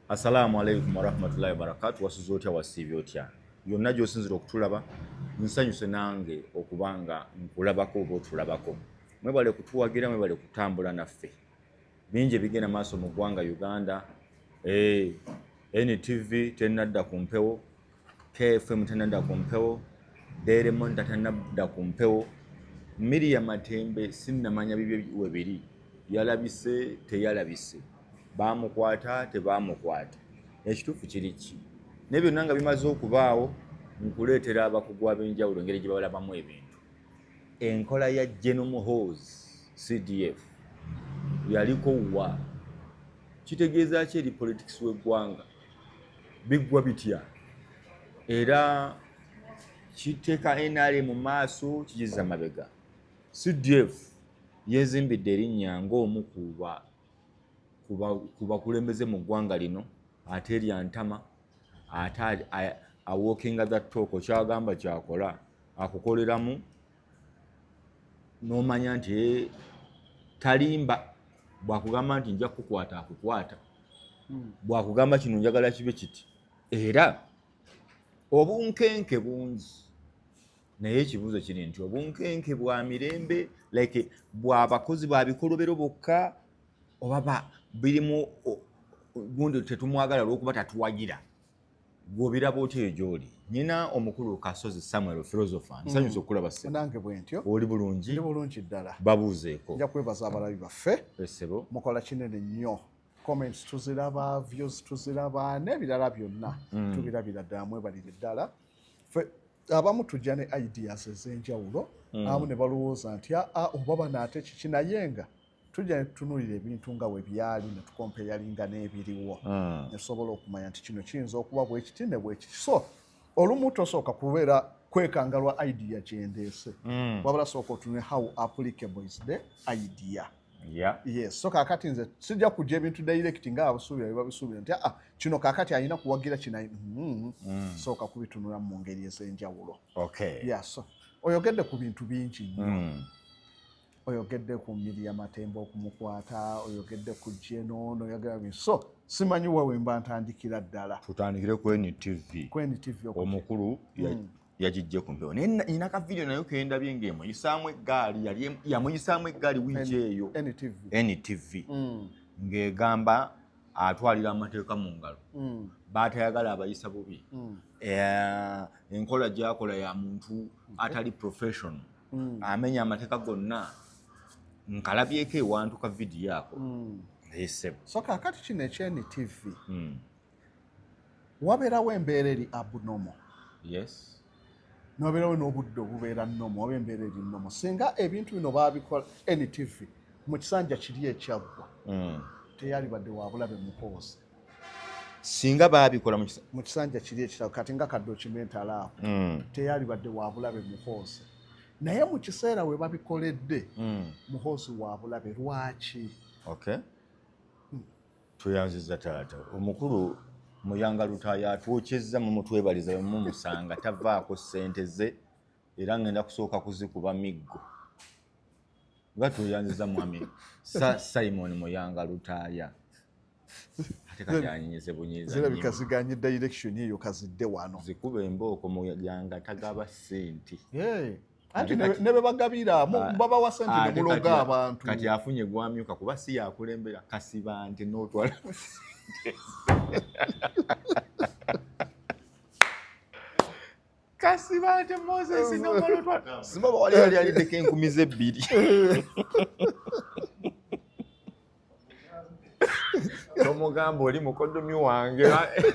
Assalamu alaikum warahmatullahi wabarakatu. Wasuze otya wasiibye otya? Yonna gy'osinzira okutulaba, nsanyuse nange okuba nga nkulabako oba otulabako. Mwebale kutuwagira, mwebale kutambula naffe. Bingi ebigenda maaso mu ggwanga Uganda. Hey, eh, NTV tennadda ku mpewo kfm tanadda ku mpewo deremon tatanadda ku mpewo miria matembe sinnamanya bibye webiri yalabise teyalabise bamukwata tebamukwata ekituufu kiri ki naye byonna nga bimaze okubaawo nkuleetera abakugu ab'enjawulo engeri gye balabamu ebintu enkola ya genome hos cdf yaliko wa kitegeeza ki eri politics w'eggwanga biggwa bitya era kiteeka nra mu maaso kigiza mabega cdf yezimbidde erinnya ng'omu ku bakulembeze mu ggwanga lino ate erya ntama ate awookinga the talk kyagamba kyakola akukoleramu n'omanya nti eh, talimba bwakugamba nti nja kukukwata akukwata hmm. bwakugamba kino njagala kibe kiti era obunkenke bungi naye ekibuuzo kiri nti obunkenke bwa mirembe like bwabakozi ba bikolobero bokka oba birimu gundi tetumwagala olwokuba tatuwagira gwobiraba otya eyo gyoli nyina omukulu kasozi samuel philosopher hmm. nsanyusa okulaba senange bwentyo oli bulungi ndi bulungi ddala babuuzeeko nja kwebaza abalabi baffe esebo mukola kinene nnyo comments tuziraba views tuziraba n'ebirala byonna hmm. tubirabira ddala mwebalire ddala abamu tujja ne ideas ez'enjawulo hmm. abamu ne balowooza nti aa ah, ah, oba banaate kiki naye nga tujja netutunulira ebintu nga bwe byali ne tukompeyalinga n'ebiriwo hmm. ne tusobola okumanya nti kino kiyinza okuba bwekiti ne bwekiti so olumu tosooka kubeera kwekangalwa idea kyendeese hmm. wabula sooka otune how applicable is the idea Yeah. Yes. So kakati nze sijja kujja ebintu direct nga abasuubira biba bisuubira nti ah kino kakati alina kuwagira kino mm. mm. sooka kubitunula mu ngeri ez'enjawulo. Okay. Yeah, so oyogedde ku bintu bingi nnyo. Mm. oyogedde ku mbiri ya matemba okumukwata oyogedde ku jenono oyogerabi so simanyi wa wemba ntandikira ddala tutandikire ku ntv ku ntv omukulu hmm. yagijje ku mpewo naye nina ka vidiyo nayo kendabye nga emuyisaamu eggaali yamuyisaamu eggaali wiiki eyo ntv hmm. ng'egamba atwalira amateeka mu ngalo hmm. baatayagala abayisa bubi enkola gyakola ya muntu atali professional mm. amenya amateeka gonna nkalabyeko ewantu ka vidiyo ako mm. esebo so kakati kino ekyeni tv mm. wabeerawo embeera eri abnormal yes nobeerawo n'obudde obubeera nomu oba embeera eri nomu singa ebintu bino baabikola ntv mu kisanja kiri ekyaggwa teyalibadde wabulabe mupoozi singa baabikola mu kisanja kiri ekirabo kati nga kadokimentaalaako hmm. teyalibadde wabulabe muhoosi naye mu kiseera we babikoledde hmm. muhoosi wabulabe lwaki hmm. tweyanziza taata omukulu muyanga lutaaya atwokyezza mumutwebaliza wemumusanga tavaako sente ze era ngenda kusooka kuzikuba miggo nga tweyanziza mwami simon muyanga lutaaya zirabika ziganye direction eyo kazidde wano zikuba embooko muyanga tagaba sente anti ne bwe bagabira babawa sente ne muloga abantu kati afunye gwamyuka kuba si yakulembera kasiba nti n'otwala kasiba nti moses nomala otwala simaba wali yali alideko enkumi z'ebbiri tomugamba oli mukodomi wange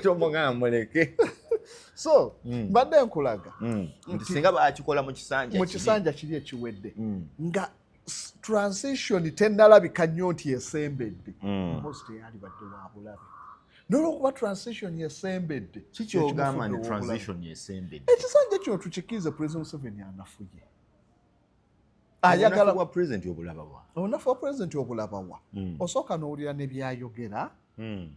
tomugamba muleke so mm. badde nkulaga mm. nti singa bakikola mu kisanja mu kisanja kiri ekiwedde mm. nga transition tenalabika nnyo nti esembedde mm. mpozi teyali badde wabulabe nolwokuba transition esembedde kikyogamba ni transition esembedde ekisanja kino tukikiize president museveni anafuye ayagala wa president obulabawa onafu wa president obulabawa hmm. osooka n'owulira ne byayogera hmm.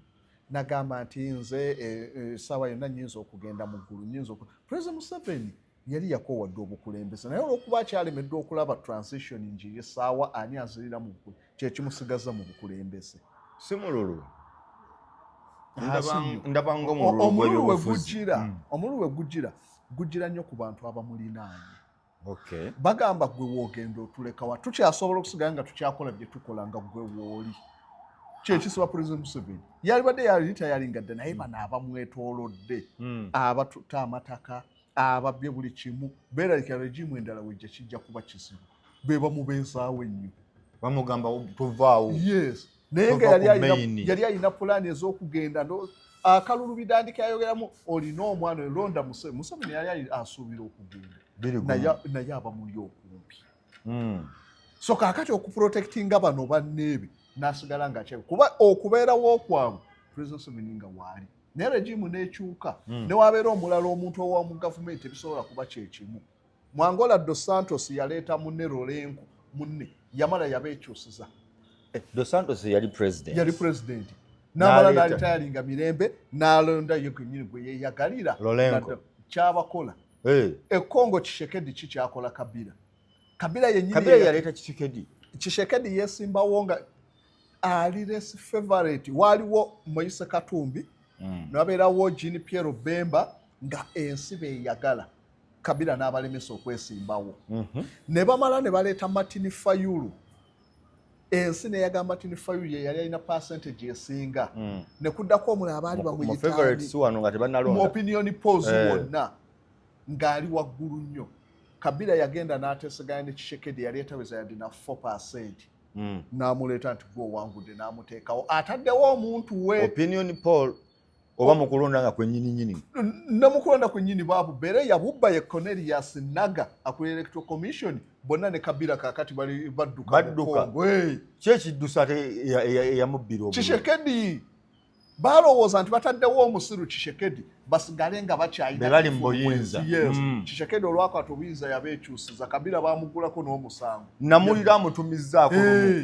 nagamba nti nze eh, eh, saawa yonna nyinza okugenda mu ggulu nyinza president museveni yali yakowadde obukulembeze naye olwokuba akyalemeddwa okulaba transition ngi esaawa ani azirira mu ggulu kyekimusigaza mu bukulembeze simululu ndabanga omululu wegujira omululu wegujira gujira nnyo ku bantu abamulinaanye okay. bagamba gwe wogenda otulekawa tukyasobola okusigala nga tukyakola byetukola nga gwe wooli kyekisiba president museveni yalibadde yali tayalinga dda naye bano abamwetolodde hmm. abatuta amataka ababye buli kimu beralika regimu endala wejja kijja kuba kizibu bebamubeezaawo ennyo bamugamba tuvaawo yes naye nga yali alina pulaani ez'okugenda akalulu bidandika yayogeramu olina omwana oyo londa museveni museveni yali asuubira okugenda naye aba muli okumpi hmm. so kakati okuprotectinga bano banneebe nasigala nga kyebe kuba okubeerawo kwabwe president museveni nga waali naye regimu nekyuka hmm. newabeera omulala omuntu owamu gavumenti ebisobola kuba kyekimu Mu Angola, Dos Santos yaleeta munne Lorenco munne yamala yabeekyusiza. Eh, Dos Santos yali president. Yali president. N'amala n'alitayalinga mirembe n'alonda ye gwennyini gwe yeeyagalira. Lorenco. Kyabakola. Hey. Eh. E Congo Kishekedi ki kyakola Kabila. Kabila yennyini. Kabila yaleeta Kishekedi. Kishekedi yeesimbawo nga ali less favorite. Waaliwo Moise Katumbi. Mm. Nabeerawo Jean Pierre Bemba nga ensi beeyagala. Kabila n'abalemesa okwesimbawo mhm. ne bamala ne baleeta Martin Fayulu ensi neyaga Martin Fayulu ye yali alina percentage esinga mm. ne kuddako omula abaali bamuyitamu opinion polls eh. wonna ng'ali waggulu nnyo Kabila yagenda n'ateeseganya ne Tshisekedi yali etaweza yadde na 4 percent mm. n'amuleeta nti gwe owangudde n'amuteekawo ataddewo omuntu we opinion poll oba mukulonda nga kwenyini nyini namukulonda kwenyini babu bere yabubba ye Cornelius Naga akuli electoral commission bonna ne kabira kakati bali badduka badduka kye kiddusa te eyamubbira obu kishekedi balowooza nti bataddewo omusiru kishekedi basigale nga bakyayina bali mu buyinza yes mm. kishekedi olwakwata obuyinza yabeekyusiza kabira bamugulako n'omusango namulira amutumizzaako hey.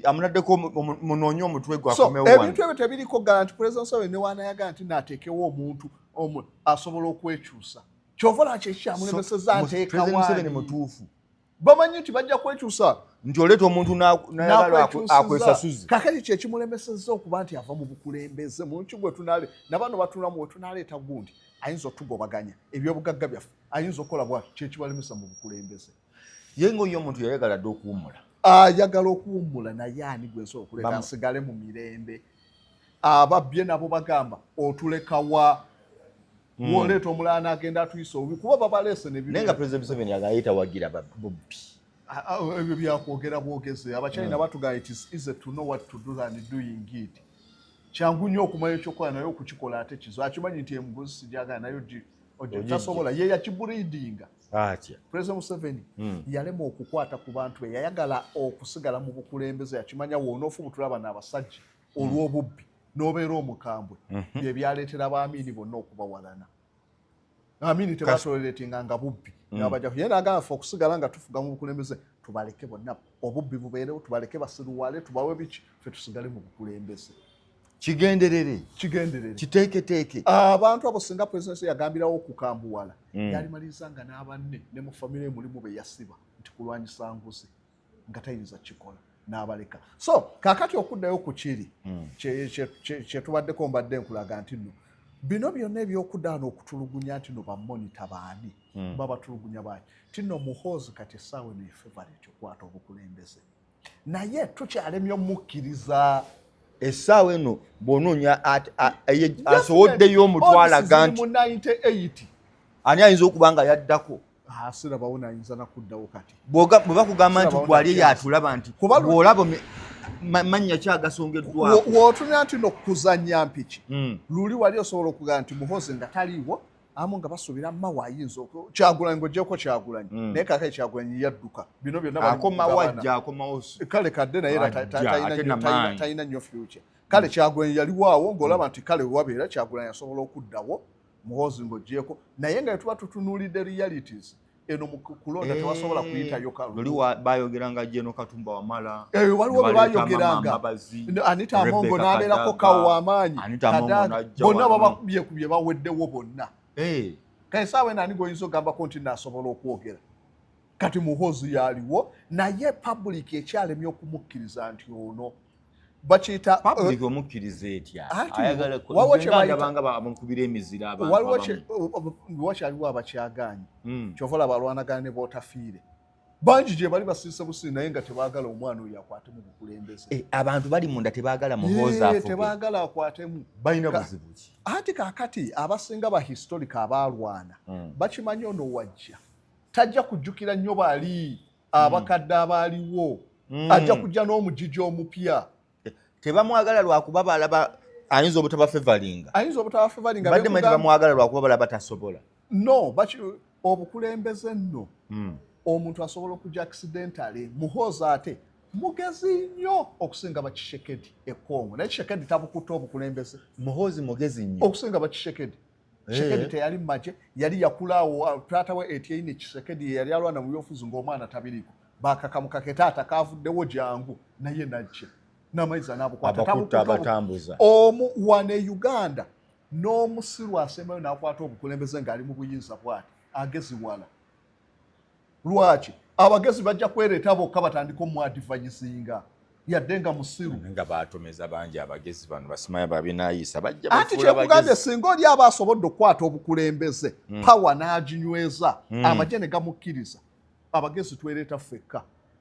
amunaddeko munoonye omutwe gwe akomewo wano ebintu ebyo tebiriko garanti pulezida museveni ne waanayagala nti naateekewo omuntu omu asobola okwekyusa kyova lwaki ekikyamulemeseza nteekawaani mutuufu bamanyi nti bajja kwekyusa nti oleeta omuntu akwesasuze kakati kyekimulemeseza okuba nti ava mu bukulembeze munki gwetunale nabano batulamu wetunaleeta gundi ayinza otugobaganya ebyobugagga byaffe ayinza okukola bwati kyekibalemesa mu bukulembeze ye ngaoyo omuntu yayagala dde okuwummula ayagala okuwummula naye ani gwensobola okuleta nsigale mu mirembe ababbye nabo bagamba otulekawa hmm. woleeta omulaana agenda atuyisa obi kuba babaleese nenaye nga president museveni agaye tawagira bubbi ebyo byakwogera bwogezi abachina hmm. batugaa it is easy to know what to do than doing it kyangu nnyo okumanya ekyokukola naye okukikola ate kizo akimanyi nti emugozi sijagala naye otasobola ye yakiburidinga atya president museveni mm. yalema okukwata ku bantu be yayagala okusigala mu bukulembeze yakimanya wonoofubutula bano abasajja hmm. olw'obubbi n'obeera omukambwe mm -hmm. bye byaleetera baamiini bonna okubawalana amiini tebatoleretinga nga bubbi hmm. nabajaku ye nagamba fe okusigala nga tufuga mu bukulembeze tubaleke bonna obubbi bubeerewo tubaleke basiruwale tubawe biki fe tusigale mu bukulembeze kigenderere kigenderere kiteeketeeke abantu abo singa presidence yagambirawo okukambuwala mm. yalimaliriza nga n'abanne ne mu famire mulimu be yasiba nti kulwanyisa nguzi nga tayinza kikola n'abaleka so kakati okuddayo ku kiri mm. kyetubaddeko mbadde nkulaga nti nno bino byonna ebyokudaana okutulugunya nti no bamonita baani mm. babatulugunya baani ti no muhoozi kati essaawa eno efevaret okukwata obukulembeze naye tukyalemye omukkiriza essaawa eno bwonoonya asoboddeyo omutwalaga nti ani ayinza okuba nga yaddako ah, sirabawo nayinza nakuddawo kati bwebakugamba nti gwali eyatulaba nti bwolaba mannya ki agasongeddwawootunya nti nokuzanya mpiki hmm. luli wali osobola okugamba nti muhozi nga taliiwo amu nga basuubira mawa ayinza kyagulanyi ngaogyeko kyagulanyi hmm. naye kakale kyagulanyi yadduka bino byonnaakale kadde naye talina nyo future kale kyagulanyi yaliwaawo ngaolaba nti kale wabeera kyagulanyi asobola okuddawo muhoozi ngaogyeko naye nga etuba tutunuulidde realities eno mukulonda eh, tewasobola kuyitayo kaluli bayogeranga jeno katumba wamala eh, waliwo bebayogeranga anita amongo nabeerako kawo wamaanyi bonna babakubyekubye baweddewo bonna eh. kale saawa eno ani goyinza ogambako nti nasobola okwogera kati muhozi yaliwo naye public ekyalemye okumukkiriza nti ono bakiyita uh, public omukkiriza etya ayagala kuyagabanga bamukubira emizira abantuwakyaliwo uh, abakyagaanyi hmm. kyova olaba alwanagana ne bootafiire bangi gye bali basiise busizi naye nga tebaagala omwana oyo akwate mu bukulembeze eh, abantu bali munda tebaagala muhoozatebaagala akwatemu balina buzibu ki anti kakati abasinga ba historika abaalwana hmm. bakimanyi ono wajja tajja kujjukira nnyo bali abakadde abaaliwo mm. ajja kujja n'omujiji omupya tebamwagala lwakuba balaba ayinza obutaba fevalinga ayinza obutaba fevalinga badde mwe tebamwagala lwakuba balaba tasobola no baki obukulembeze nno mm. omuntu asobola okujja accidentally muhoozi ate mugezi nnyo okusinga bakishekedi ekongo naye kishekedi tabukutte obukulembeze muhoozi mugezi nnyo okusinga bakishekedi Eh. Kisekedi teyali mu magye yali yakula awo ah, taata we Etienne Kisekedi ye yali alwana mu byobufuzi ng'omwana tabiriiko bakakamuka ke taata kaavuddewo jangu naye najja n'amayiza n'abukwatabatambuza omu wane Uganda n'omusiru asembayo n'akwata obukulembeze ng'ali mu buyinza bwati ageziwala lwaki abagezi bajja kwereeta bokka batandika omwadivanyisinga yadde nga musiru nga batomeza bangi abagezi bano basimaya babinayisa bajja anti kyekugambye singa oli aba asobodde okukwata obukulembeze hmm. pawa n'aginyweza hmm. amagye ne gamukkiriza abagezi twereeta ffekka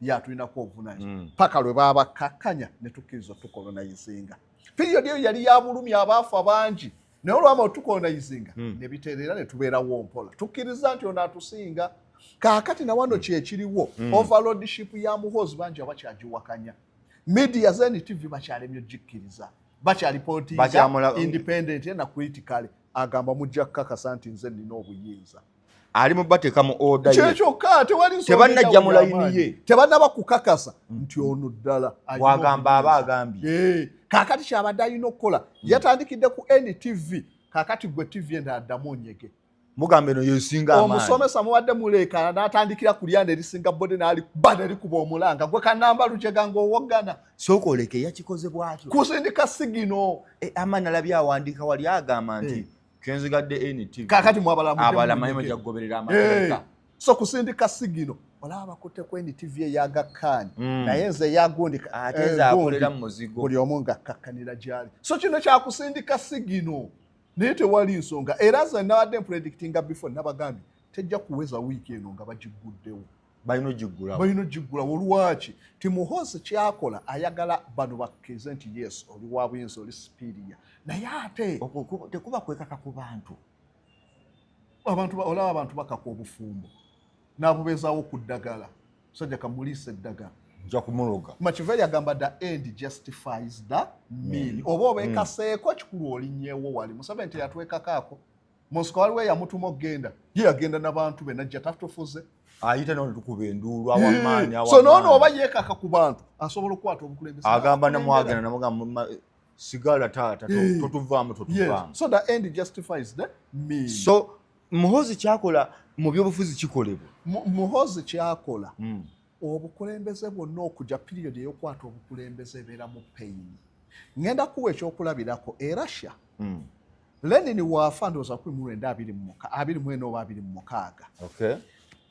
ye atulinako obuvunanyizibwa hmm. paka lwe babakkakkanya ne tukkiriza otukolonaizinga piriyodi eyo yali ya bulumi abaafu abangi naye olwama otukolonaizinga hmm. ne bitereera ne tubeerawo mpola tukkiriza nti ono atusinga kaakati na wano kyekiriwo hmm. overlordship ya muhoozi bangi abakyagiwakanya media zeni tv bakyalemye ogikkiriza bakyali politiindependent na critically agamba mujja kukakasa nti nze nina obuyinza ali mu bateeka mu oda kyekyokka tebanajja mu layini ye tebanaba kukakasa mm. nti ono ddala wagamba aba agambye eh, kakati kyabadde alina okukola mm. yatandikidde ku ntv kakati gwe tv enda addamu onyege mugamba eno yesinga amaanyi omusomesa mubadde muleekana n'atandikira ku lyanda erisinga bode n'ali ba ne likuba omulanga gwe kanamba lujega ng'owoggana sooka oleke yakikoze bwatyo kusindika sigino e, amaani alabye awandiika wali agamba nti eh. kyenzigadde NTV kakati mwabalamuabalamanyuma jakugoberera amateeka eh, so kusindika sigino olaba bakutte ku NTV eyaga kaani hmm. naye nze eyagundi ate eh, zakolera mu muzigo buli omu nga akkakkanira gyali so kino kyakusindika sigino naye tewali nsonga era nze nabadde mpredictinga before nabagambye tejja kuweza wiiki eno nga bagigguddewo balina ogiggulawo balina ogiggulawo lwaki timuhoozi kyakola ayagala bano bakkirize nti yes oli wa buyinza oli sipiiriya naye ate tekuba kwekaka ku bantu abantu olaba abantu bakaka obufumbo n'abubeezaawo ku ddagala musajja kamuliisa eddagala nja kumuloga makiveri agamba the end justifies the mean mm. oba obekaseeko mm. kikulu olinyewo wali museveni teyatwekakaako munsiko waliwo eyamutuma okugenda ye yagenda nabantu be najja tatufuze ayita nao netukuba enduulu awamaanyi so noono oba yekaka ku bantu asobola okukwata obukulembeze agamba namwagenda namugamba sigala taata totuvaamu totuvaamu so the end justifies the me so muhozi kyakola mu byobufuzi kikolebwa muhozi kyakola hmm. obukulembeze bwonna okuja period eyokwata obukulembeze ebeera mu pain ngenda kuwa ekyokulabirako e russia mm. lenin waafa ndowooza kumi mu lwenda abiri mu ena oba abiri mu mukaaga okay.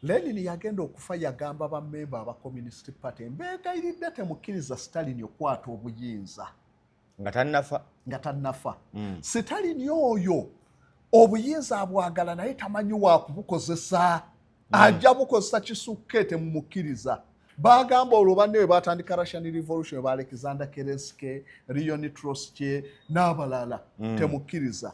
lenin yagenda okufa yagamba bamemba aba communist party mbeegayiridde temukkiriza stalin okwata obuyinza nga tannafa nga tannafa mm. sitalini oyo obuyinza abwagala naye tamanyi wakubukozesa mm. ajja bukozesa kisukke temumukkiriza bagamba olwo banne we batandika russian revolution ba alexander kereske rionitroske n'abalala mm. temukkiriza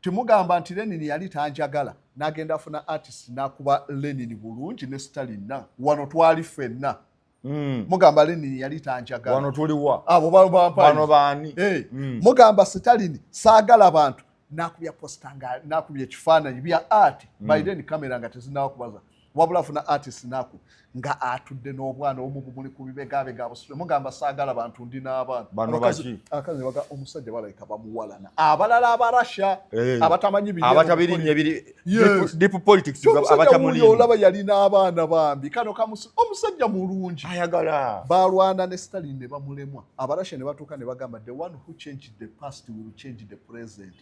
Temugamba nti Lenin yali tanjagala nagenda afuna artist nakuba Lenin bulungi ne Stalin na wano twali fenna mm. mugamba Lenin yali tanjagala wano tuliwa abo bano bani hey. Eh, mm. mugamba Stalin sagala bantu nakubya posta nga nakubya ekifaananyi bya art mm. by then camera nga tezinakubaza wabula funa artist naku nga atudde n'obwana omu bumuli ku bibegabega abusule mugamba saagala bantu ndi n'abaana bano baki akazi baga omusajja balabika bamuwalana abalala abarasha eh, abatamanyi biri abatabirinye biri deep politics abatamulinye olaba yali n'abaana bambi kano kamusu omusajja mulungi ayagala balwana ne Stalin ne bamulemwa abarasha ne batuuka ne bagamba the one who changed the past will change the present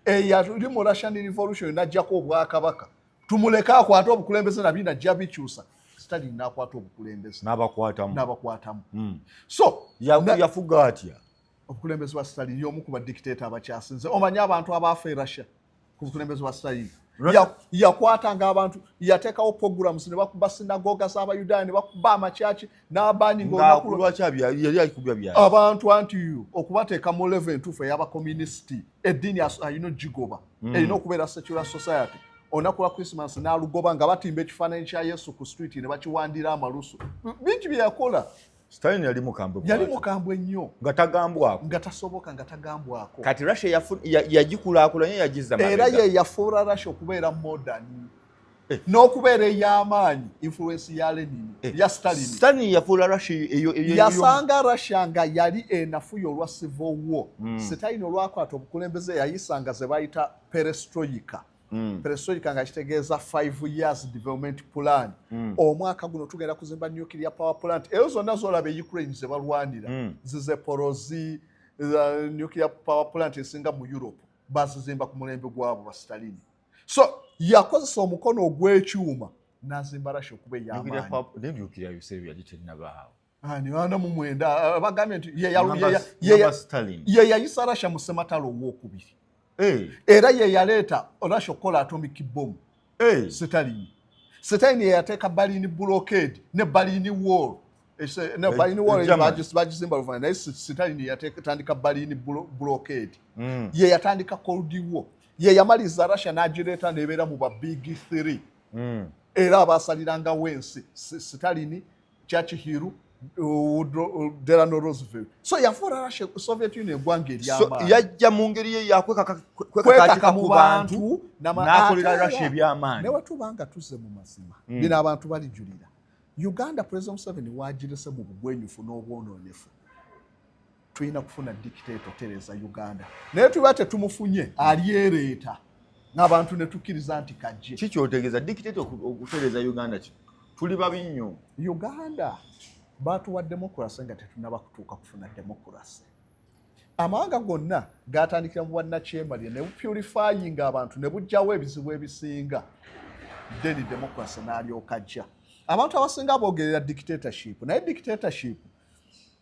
eyali mu Russian revolution najjako obwakabaka tumuleke akwate obukulembeze nabyo najja bikyusa sitani nakwata obukulembeze nabakwatamu nabakwatamu mm. so yafuga na, atya obukulembeze bwa sitani yomu ku badikiteta abakyasinze omanyi abantu abaafa e russia ku bukulembeze bwa sitani yakwatanga abantu yateekawo programs ne bakuba sinagoga z'abayudaaya ne bakuba amakyaki n'amaanyi ngaabantu anti okubateeka mu levo entuufu ey'abakomunisiti eddiini alina ogigoba hmm. erina okubeera secular society olunaku lwa christmas n'alugoba nga batimba ekifaananyi kya yesu ku street ne bakiwandira amalusu bingi bye yakola Stalin yali mukambwe yali mukambwe nnyo nga tagambwako nga tasoboka nga tagambwako kati Russia yagikulaakulanya yagizza era ye yafuula Russia okubeera modern Eh. n'okubeera ey'amaanyi influence ya Lenin eh. ya Stalin Stalin yafuula Russia eyo yasanga Russia nga yali enafuya olwa civil war hmm. Stalin olwakwata obukulembeze yayisanga ze bayita perestroika hmm. perestroika nga kitegeeza five years development plan hmm. omwaka guno tugenda kuzimba nuclear power plant eyo zonna zolaba e Ukraine ze balwanira zize porozi nuclear power plant esinga mu Europe bazizimba ku mulembe gwabo ba Stalin so yakozesa omukono ogw'ekyuma n'azimba rasha okuba ey'amaanyi Ah, nibaana mu mwenda ah, ah, bagambye nti ye yayisa rasha mu sematalo owokubiri eh. era ye yaleeta rasha okukola atomic bom eh. sitalini sitalini yeyateeka balini blockade ne balini wall balini wall bagizimba luvana naye sitalini yatandika balini blockade hmm. ye yatandika cold war ye yamaliza russia n'agireeta nebeera mu ba big three mm. era abaasalirangawo ensi sitalini chachihiru delano roosevelt so yafuula russia soviet union egwanga eryayajja mu ngeri ye yakwekakatika mu bantu n'akolera russia ebyamaanyi naye watuba nga tuzze mu mazima mm. bino abantu balijulira uganda president museveni wagirese mu bugwenyufu n'obwononefu tulina kufuna dictato tereza uganda naye tuba tetumufunye alyereeta nabantu netukkiriza nti kajje ki kyotegeeza dictato okutereza uganda ki tuli babi nnyo uganda batuwa demokrasi nga tetunaba kutuuka kufuna demokrasi amawanga gonna gatandikira mu bwannakyemalire ne bupurifayinga abantu ne bujjawo ebizibu ebisinga then demokrasi n'alyoka jja abantu abasinga boogerera dictatorship naye dictatorship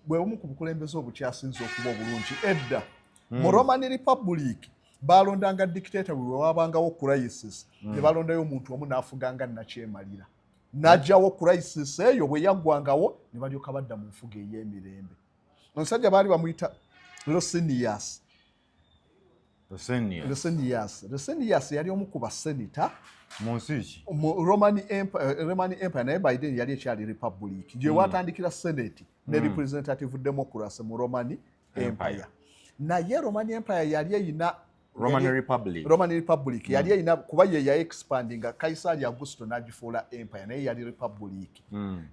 bwe bumu ku bukulembeze obukyasinze okuba obulungi edda hmm. mu roman republic balondanga dictator buli wewabangawo crisis hmm. ne balondayo omuntu omu n'afuganga nakyemalira n'ajjawo crisis eyo bwe yaggwangawo ne balyoka badda mu nfuga ey'emirembe omusajja baali bamuyita losinias Resenius Resenius yali omu ku basenita mu nsi ki mu Roman Empire, eh, Roman Empire naye by then yali ekyali republic gye hmm. watandikira senate ne hmm. representative democracy mu Roman Empire naye Roman Empire yali eyina Roman Republic Roman Republic hmm. yali eyina kuba ye ya expand nga Kaisari Augusto n'agifuula empire naye yali republic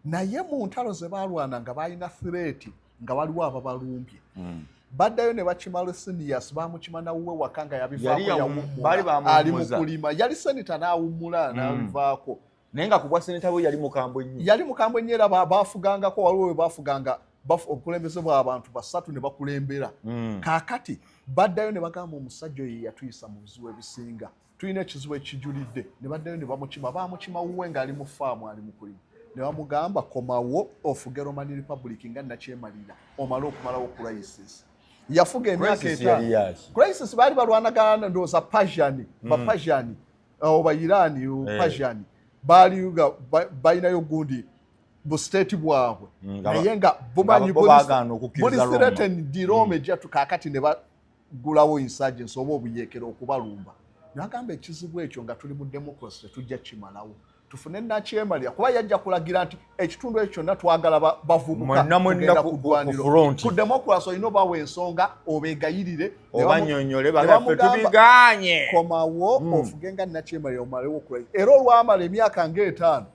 naye mu ntalo ze baalwana nga baalina threat nga waliwo ababalumbye hmm. baddayo ne bakimala sinias bamukima nawuwe waka nga yabivaali mukulima yali seneta n'awummula hmm. nabivaako naye nga kubwa seneta we yali mukambwe nnyo yali mukambwe nnyo era baafugangako waliwo we baafuganga obukulembeze bw'abantu basatu ne bakulembera hmm. kaakati baddayo ne bagamba omusajja oyo yeyatuyisa mu buzibu ebisinga tulina ekizibu ekijulidde ne baddayo ne bamukima bamukima wuwe ng'ali mu faamu ali mukulimu ne bamugamba komawo ofuge romani republic nga nakyemalira omale okumalawo crisis yafuga emyaka etaano crisis baali balwanagana ndowooza pajani hmm. bapajani uh, oba irani uh, eh. pajani baali balinayo gundi bu state bwabwe hmm, naye nga bumanyi buli sireteni dirome hmm. jatu kakati ne okuggulawo insurgency oba obuyeekera okubalumba nagamba ekizibu ekyo nga tuli mu democracy tetujja kimalawo tufune nakyemalira kuba yajja kulagira nti ekitundu ekyo kyonna twagala bavubukaagenda kugwanirku democracy olina obawa ensonga obegayirire obanyonyolebagatubiganye komawo hmm. ofuge nga nakyemalira omalewo okula era olwamala emyaka ngaetaano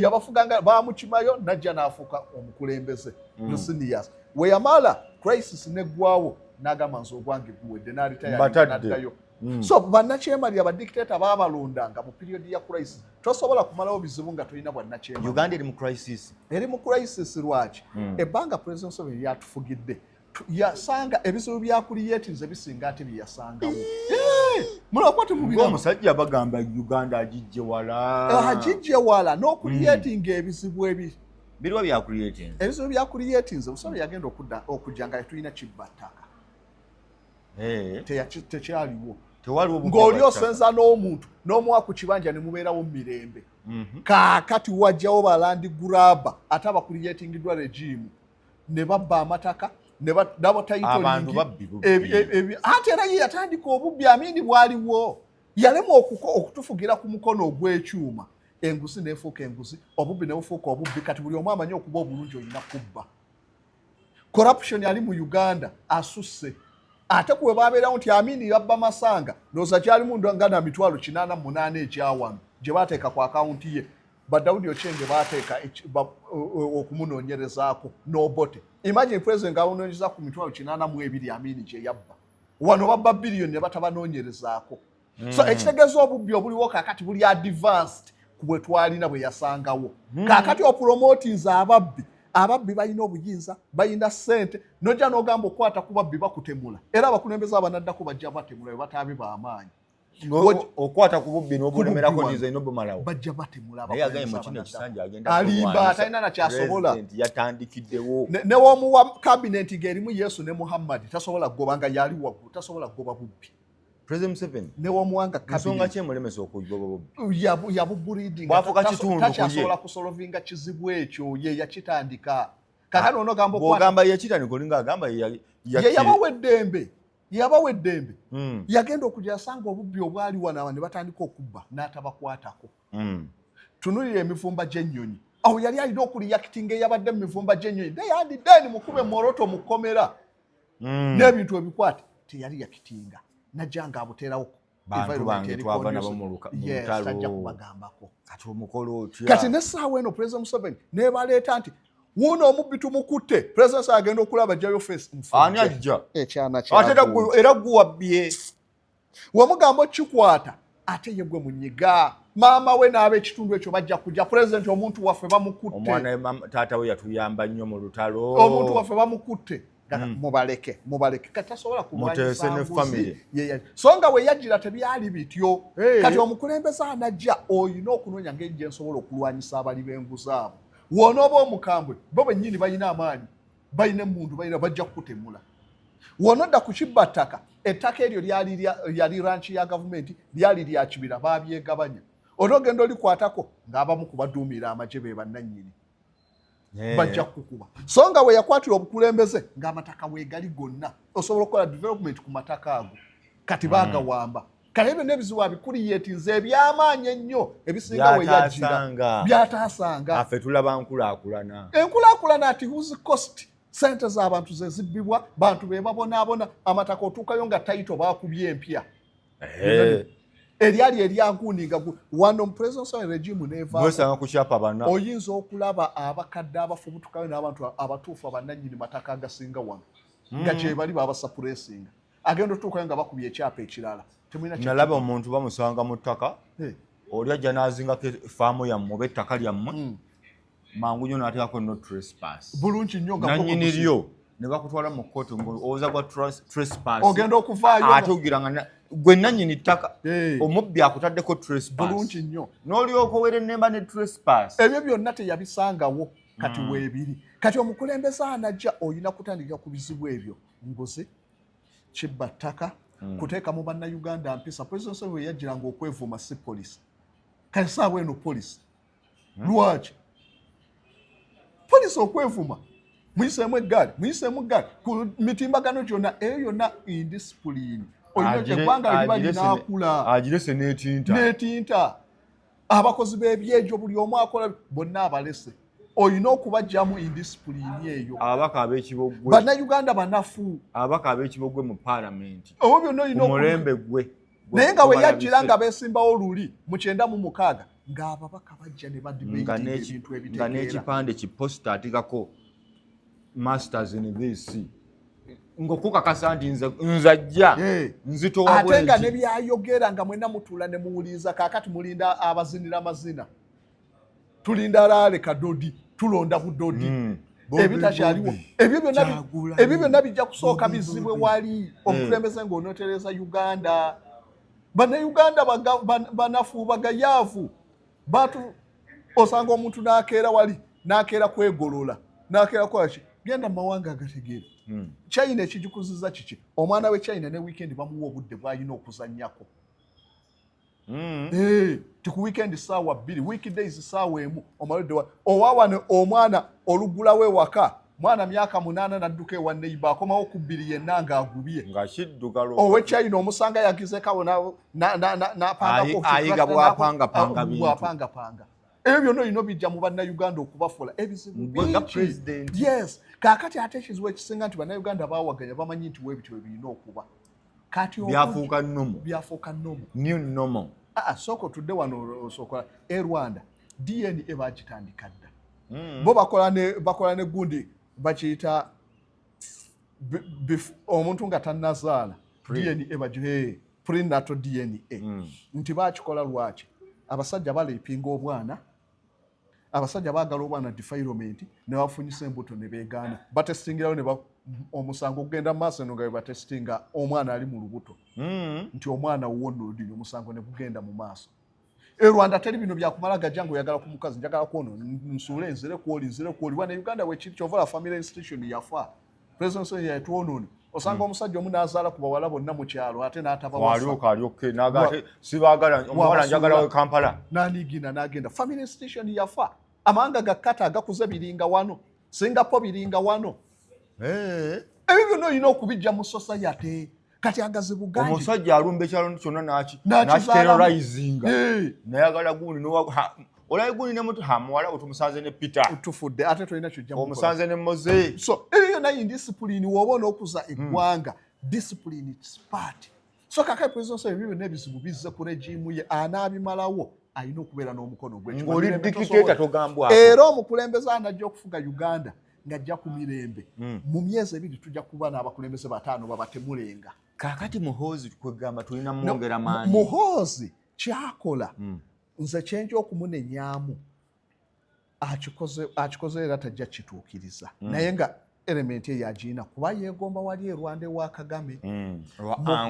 yabafuga nga bamukimayo najja nafuuka omukulembeze hmm. musinias we yamala crisis ne gwawo nagamba nze ogwange guwedde nalitayaddayo Mm. so bannakyemalira badictator babalondanga mu period ya crisis tosobola kumalawo bizibu nga tolina bwannakyeuganda eri mu crisis eri mu crisis lwaki mm. ebbanga president museveni yatufugidde yasanga ebizibu byakuliyetiriza bisinga ate byeyasangawo omusajja bagamba uganda agijje wala agijje wala n'okuliyetinga mm. ebizibu ebi Biriwa bya creating. Ebizibu bya creating nze musolo yagenda okudda okujja nga tulina kibba ttaka. Eh. Tekyaliwo. Tewaliwo bukaba. Ng'oli osenza n'omuntu n'omuwa ku kibanja ne mubeerawo mu mirembe. Mhm. Kaakati wajjawo balandi guraba ate abakuriyetingiddwa regimu ne babba amataka ne badabo tayito. Abantu babbi bubbi. Ate era ye yatandika obubbi amini bwaliwo. yalemwa okutufugira ku mukono ogw'ekyuma enguzi nefuuka enguzi obubbi nebufuuka obubbi kati buli omu amanyi okuba obulungi olina kubba corruption ali mu uganda asusse ate kuwe babeerawo nti amini yabba masanga noza kyalimu nga na mitwalo kinaana munaana ekyawano gye bateeka ku akawunti ye badawudi okyenge bateeka okumunoonyerezaako nobote imagine president nga awunoonyeza ku mitwalo kinaana mu ebiri amini gye yabba wano babba biliyoni ne batabanoonyerezaako hmm. so ekitegeeza obubbi obuliwo kakati buli advanced ku bwe twalina bwe yasangawo hmm. kakati opromotinza ababbi ababbi balina obuyinza balina sente nojja nogamba okukwata ku babbi bakutemula era abakulembeze abanaddako bajja batemula bwe bataabe bamaanyi okwata ku bubbi n'obulemerako nize n'obumalawo bajja batemulabaye agaye mu kino ekisanja agenda alimba atalina nakyasobola yatandikiddewo newomuwa kabineti ng'erimu yesu ne muhammadi tasobola kugoba nga yali waggulu tasobola kugoba bubbi newomwangayabubulidingtakyasobola kusolovinga kizibu ekyo ye yakitandika kakati onogamba ogamba yakitandika olinga agamba yeyabawa eddembe yabawa eddembe mm. yagenda okuja asanga obubbi obwali wanawa ne batandika okubba n'atabakwatako mm. tunulira emivumba gy'ennyonyi awo yali alina okuliyakitinga eyabadde mu mivumba gy'ennyonyi naye andi deni mukube moroto mukomera mm. n'ebintu ebikwate teyali yakitinga najanga abuteerawo bantu bange twava nabo mu lutalokubagambako kati omukolo otya kati nesaawa eno president museveni nebaleeta nti wuuno omubbi tumukutte president agenda okulaba jayo face ani ajja ate era guwabbye wemugamba okikwata ate ye gwe munyiga maama we n'ab'ekitundu ekyo bajja kujja pulezidenti omuntu waffe bamukutte omwana taata we yatuyamba nnyo mu lutalo omuntu waffe bamukutte mm. mubaleke mubaleke kati tasobola kulwanyisambuzi so nga weyajira tebyali bityo hey. kati omukulembeze anajja oyina okunoonya ngeri gyensobola okulwanyisa abali benguzi abo wonooba omukambwe bo benyini balina amaanyi balina emundu balina bajja kukutemula wonodda ku kibba ttaka ettaka eryo lyali ranki ya gavumenti lyali lya kibira babyegabanya onoogenda olikwatako ng'abamu kubaduumira amagye be bannannyini eh. bajja kukukuba so nga we yakwatira obukulembeze ng'amataka weegali gonna osobola okukola development ku mataka ago kati mm. baagawamba kale ebyo n'ebizibu abikuliyetinze eby'amaanyi ennyo ebisinga we yajjira byataasanga afe tulaba nkulaakulana enkulaakulana ati whose cost sente z'abantu ze zibbibwa bantu be babonaabona amataka otuukayo nga tayito baakubye empya Hey. eryali eryaguninga wano mupresence wa regime nevawesanga kukyapa bana oyinza okulaba abakadde abafubutukayo n'abantu abatuufu abananyini mataka agasinga wano hmm. nga kyebali babasapuresinga agenda otuukayo nga bakubya ekyapa ekirala nalaba omuntu bamusanga mu ttaka oli ajja n'azingako efaamu yammwe oba ettaka lyammwe hmm. mangu nyo natekako no trespass bulungi nyo nga nanyini lyo ne bakutwala mu kkooti ng'owooza gwa trespass ogenda okuvaayo ate ogira nga gwe nanyini ttaka omubbi akutaddeko trespass bulungi nnyo n'olyoka owere nemba ne trespass ebyo byonna teyabisangawo kati mm. weebiri kati omukulembeze anajja olina kutandikira ku bizibu ebyo nguzi kibba ttaka mm. kuteeka mu bannayuganda mpisa president yajjiranga okwevuma si polisi kati saawa eno polisi lwaki poliisi okwevuma muyiseemu eggaali muyiseemu eggaali ku mitimbagano gyonna eyo yonna indisipulini olinaeggwanga liba linaakula agirese netinta netinta abakozi b'ebyejo buli omu akola bonna abalese olina okubajjamu indisipulini eyo ababaka abekibogwe bannayuganda banafu ababaka abekibogwe mu paalamenti obo byonna olina omulembe gwe naye nga weyajjira nga besimbawo luli mu kyenda mu mukaaga ng'ababaka bajja ne badibetinebintu ebitegeera nga n'ekipande ki posita atikako masters in this ngokukakasa nti nze nzajja nzitowa ate nga nebyayogera nga mwena mutuula ne muwuliriza kakati mulinda abazinira amazina tulinda laale kadodi tulonda budodi mm. ebitakyaliwo ebyo byonna bijja kusooka bizibwe wali mm. omukulembeze mm. ngaonotereza uganda banauganda banafu bagayaavu batu osanga omuntu nakeera wali nakeera kwegolola nakeera kwaki genda mu mawanga agategeera hmm. china ekigikuziza kiki omwana we china ne weekend bamuwa obudde bwalina okuzanyako mm. hey, eh, tiku weekend saawa bbiri weekdays saawa emu omaloddewa owawano omwana olugulawo ewaka mwana myaka munaana nadduka ewa neiba akomawo ku bbiri yenna ngaagubye owekyayina omusanga yagizekawo napangaayiga bwapangapanga ebyo byonna olina obijja mu bannayuganda okubafuula ebizibubyes kakati ate ekizibu ekisinga nti bannayuganda bawaganya bamanyi nti webityo webirina okuba kati byafuuka nomo byafuuka nomo new nomo aa ah, ah, soko tudde wano osokola e rwanda dna bakitandika dda mm. bo bakola ne bakola ne gundi bakiyita omuntu nga tanazaala dna bagihe prenatal dna mm. nti bakikola lwaki abasajja baleepinga obwana abasajja baagala oba na defilement ne bafunyisa embuto ne beegaana batestingirayo ne omusango ogenda mu maaso eno nga bebatestinga omwana ali mu lubuto hmm. nti omwana wuwo noludini omusango ne gugenda mu maaso e rwanda teri bino byakumala gajja nga oyagala ku mukazi njagala kwono nsuule nzire kwoli nzire kwoli wana uganda wekiri kyovola family institution yafa presence ya tuonone osanga hmm. omusajja omu nazaala ku bawala bonna mu kyalo ate n'atabawalyooka alyokke nagate sibagala omuwala njagala we kampala nanigina nagenda family station yafa amawanga gakkata agakuze biringa wano singapore biringa wano eh. ebyo byonna olina okubijja mu society kati agaze buganda omusajja alumba ekyalo kyonna naki nakiterorizinga nayagala gundi olabe gundi ne mutu hamuwala otumusanze ne peter otufudde ate tolina kyojja omusanze ne moze so eyo yona indiscipline woba onokuza hmm. eggwanga discipline its part so kaka epresidence ebyo byonna ebizibu bizze ku regimu ye anaabimalawo alina okubeera n'omukono gwe ngoli dikiteta togambwa era omukulembeze anajja okufuga uganda ng'ajja ku mirembe mm. mu myezi ebiri tujja kuba n'abakulembeze bataano babatemulenga kakati muhoozi kwegamba tulina mwongera maanyi muhoozi kyakola mm. nze kyenja okumunenyamu akikoze era tajja kituukiriza mm. naye nga elementi eyo agiina kuba yeegomba wali erwanda ewa kagame mm.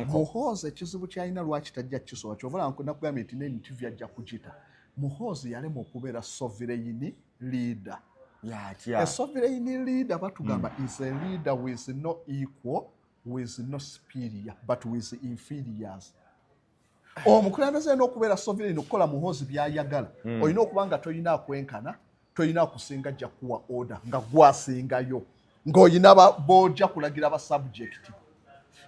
muhoozi ekizibu kyalina lwaki tajja kisobola kyovula nakugambye nti nenitivi ajja kugita muhoozi yalemwa okubeera sovireyini liida yatya esovireyini liida batugamba mm. is a leader with no equal with no superior but with inferiors omukulembeze olina okubeera sovireyini okukola muhoozi byayagala hmm. olina okuba nga tolina akwenkana tolina kusinga ajja kuwa order nga gwasingayo ng'olina boja kulagira ba subject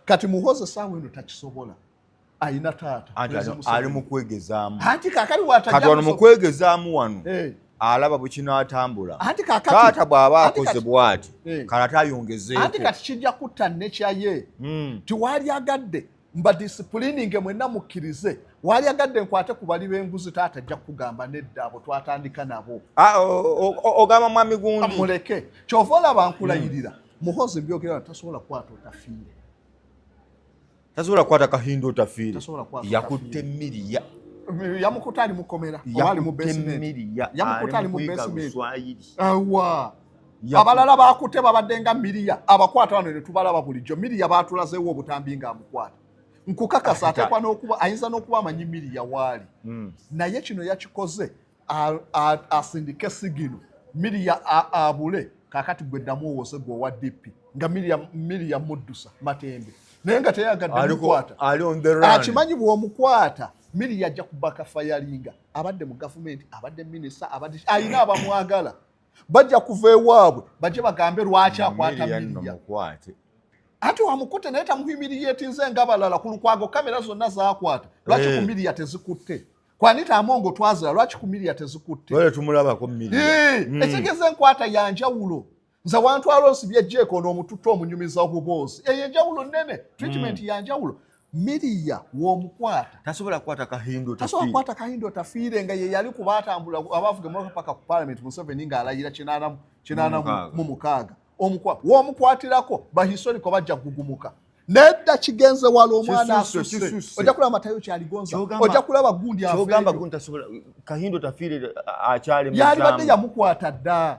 kati muhoze saawa eno takisobola alina taata ali mukwegezaamu anti kakali watakati mukwegezaamu wano eh. alaba bwekinatambula taata bw'aba akoze bwati eh. kala tayongezeeko anti kati kijja kutta nekyaye hmm. tiwali agadde mbadisipulininge mwenna mukkirize waalyagadde nkwate ku bali b'enguzi taata ajja kukugamba nedda abo twatandika nabo ah, ogamba mwami gundi ah, muleke kyova olaba nkulayirira hmm. muhozi byogera tasobola kukwata otafiire tasobola kukwata kahinda otafiire yakutte miriya yamukuta ali mukomera oba ali mu besimenti yamukuta ali mu besimenti awa abalala bakutte babadde nga miriya abakwata bano ne tubalaba bulijjo miriya baatulazeewo obutambi nga amukwata nkukakasa ateekwa n'okuba ayinza n'okuba amanyi miriya waali hmm. naye kino yakikoze asindike sigino miriya abule kakati gwe ddamu owose gwe owa dp nga miriya muddusa matembe naye nga teyagadde mukwata akimanyi bw'omukwata miriya ajja kubaka fayalinga abadde mu gavumenti abadde minisita abadde alina abamwagala bajja kuva ewaabwe bajje bagambe lwaki akwata miriya anti wamukute naye tamuhimiriyetinze nga balala ku lukwago kamera zonna zakwata lwaki eh. ku miriya tezikutte kwanita amongo twazira lwaki ku miriya tezikutte eh, mm. ekigeza enkwata yanjawulo nze wantwala onsibye jeeko noomututte omunyumiza obuboozi eyo enjawulo nene treatment mm. yanjawulo Miriya w'omukwata tasobola kukwata kahindo tasobola kukwata kahindo tafiire nga ye yali kuba atambula abaavuga emmotoka paka ku palamenti Museveni ng'alayira kinaana kinaana mu mukaaga w'omukwatirako bahistoriko bajja kugugumuka nedda kigenze wala omwana asuse ojja kulaba matayo kyaligonza ojja kulaba gundi kyogamba gundi tasobola kahindo tafiire akyali yalibadde yamukwata dda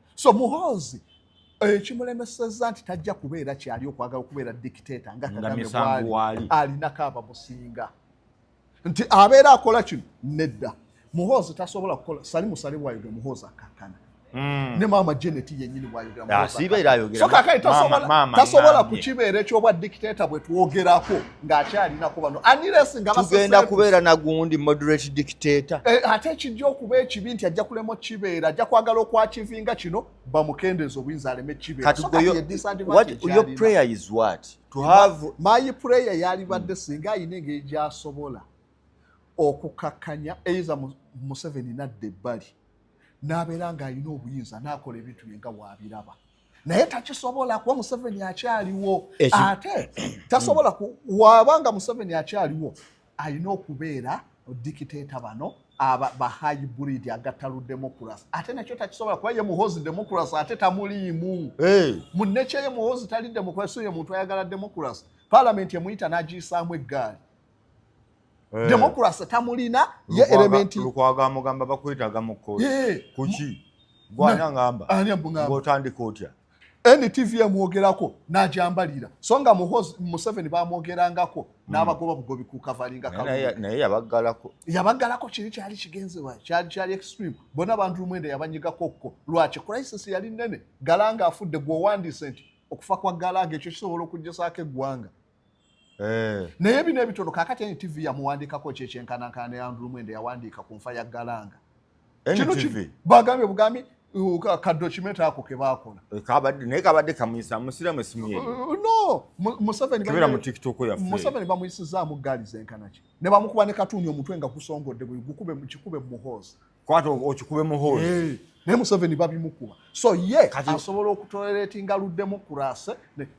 so muhoozi ekimulemeseza eh, nti tajja kubeera kyali okwagala okubeera dictator nga kagame alinako abamusinga nti abeera akola kino nedda muhoozi tasobola kukola sali musale bwayogera muhoozi akakkana hmm. ne maama janet yenyini bwayogeratasobola kukibeera ekyobwa dictator bwetwogerako ng'akyalinako bano anires nga tugenda kubeera nagundi moderate dictator eh, ate ekijja okuba ekibi nti ajja kulema okukibeera ajja kwagala okwakivinga kino bamukendeeza obuyinza aleme ekibeeramayi prayer yalibadde singa ayina engeri gyasobola okukakkanya eiza museveni nadda ebbali n'abeera ng'alina obuyinza n'akola ebintu bye nga waabiraba naye takisobola kuba museveni akyaliwo ate tasobola wabanga museveni akyaliwo alina okubeera dikiteeta bano bahayi buridi agatalu democracy ate nakyo takisobola kuba ye muhozi democracy ate tamuliimu munekye ye muhozi tali democracy ye muntu ayagala democracy palamenti emuyita nagiyisaamu eggaali Eh. democracy tamulina ye elementi lukwaga mugamba bakwetaga mu kkooti eh. kuki gwana ngamba ng'otandika otya ntv emwogerako najambalira so nga museveni bamwogerangako hmm. n'abagoba bugobi kukavalingaye yabaggalako yabaggalako kiri kyali kigenzebwa kyali kyali extreme bona bantu lumwenda yabanyigako kko lwaki crisis yali nene galanga afudde gweowandiise nti okufa kwa galanga ekyo kisobola okugyesaako eggwanga Eh. naye bino ebitono kakati ntv yamuwandikako kyekyenkanankana ne andrew mwende yawandiika ku nfa ya galanga bagambye bugambi kadocumenti ako kebakola eh, naye kabadde kamuyisa musiramu esimu ye uh, uh, no museveni bamuyisizaamu gaali zenkanaki ne bamukuba ne katuuni omutwe nga gusongodde gukube mukikube muhoozi kwata okikube mu hall hey. Eh, naye museveni babimukuba so ye asobola okutoleretinga luddemu kurase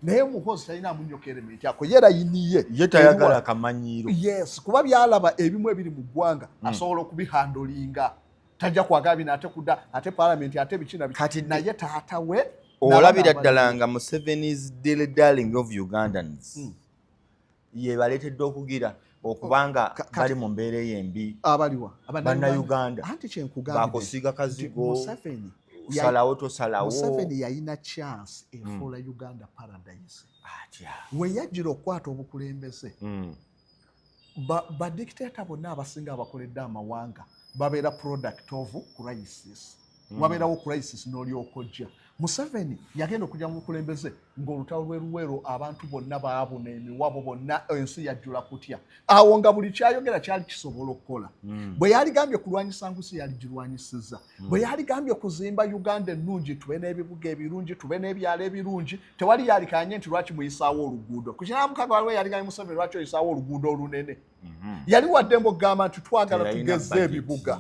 naye muhozi talina amunyokere miti ako yera yiniye ye tayagala kamanyiiro yes kuba byalaba ebimu ebiri mu ggwanga mm. asobola okubihandolinga tajja kwagala bino ate kuda ate palamenti ate bikina kati naye taata we olabira ddala nga museveni's daily darling of ugandans mm. yebaleetedde okugira okuba oh, nga bali mu mbeera eyo embi abaliwa bannayuganda anti kyenkugambye bakusiga kazigo museveni salawo tosalawo museveni yalina chance efuula hmm. uganda paradise atya weyajjira okukwata obukulembeze hmm. badictator bonna abasinga abakoledde amawanga babeera product of crisis mm. wabeerawo crisis n'olyoka ojja museveni yagenda okujja mu bukulembeze ng'olutalo lwe luweero abantu bonna baabuna emiwabo bonna ensi yajjula kutya awo nga buli kyayogera kyali kisobola okukola mm. bwe yaligambye kulwanyisa ngusi yaligirwanyisiza Hmm. bwe yaligambye okuzimba uganda ennungi tube n'ebibuga ebirungi tube n'ebyalo ebirungi tewali yalikanye nti lwaki muyisaawo oluguudo ku kinamukaga waliwo yaliganye museveni lwaki oyisaawo oluguudo olunene hmm. yali wadde mbu okugamba nti twagala tugeze ebibuga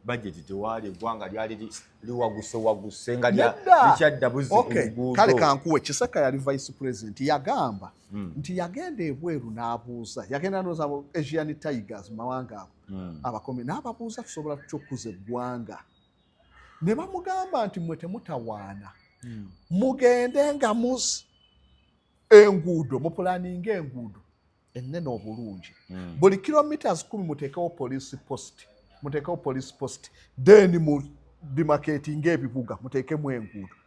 bajeti tewali eggwanga lyali liwaguse waguse nga likyadda buzikale kankuwe kiseka yali vice president yagamba hmm. nti yagenda ebweru n'abuuza yagenda noza asian tigers mawanga ago hmm. abakomye n'ababuuza tusobola tutya okukuza eggwanga ne bamugamba nti mwe temutawaana hmm. mugende nga mus enguudo mupulaninga enguudo ennene obulungi hmm. buli kilometres kumi muteekewo police post muteekewo police post then mu bimaketinga ebibuga muteekemu enguudo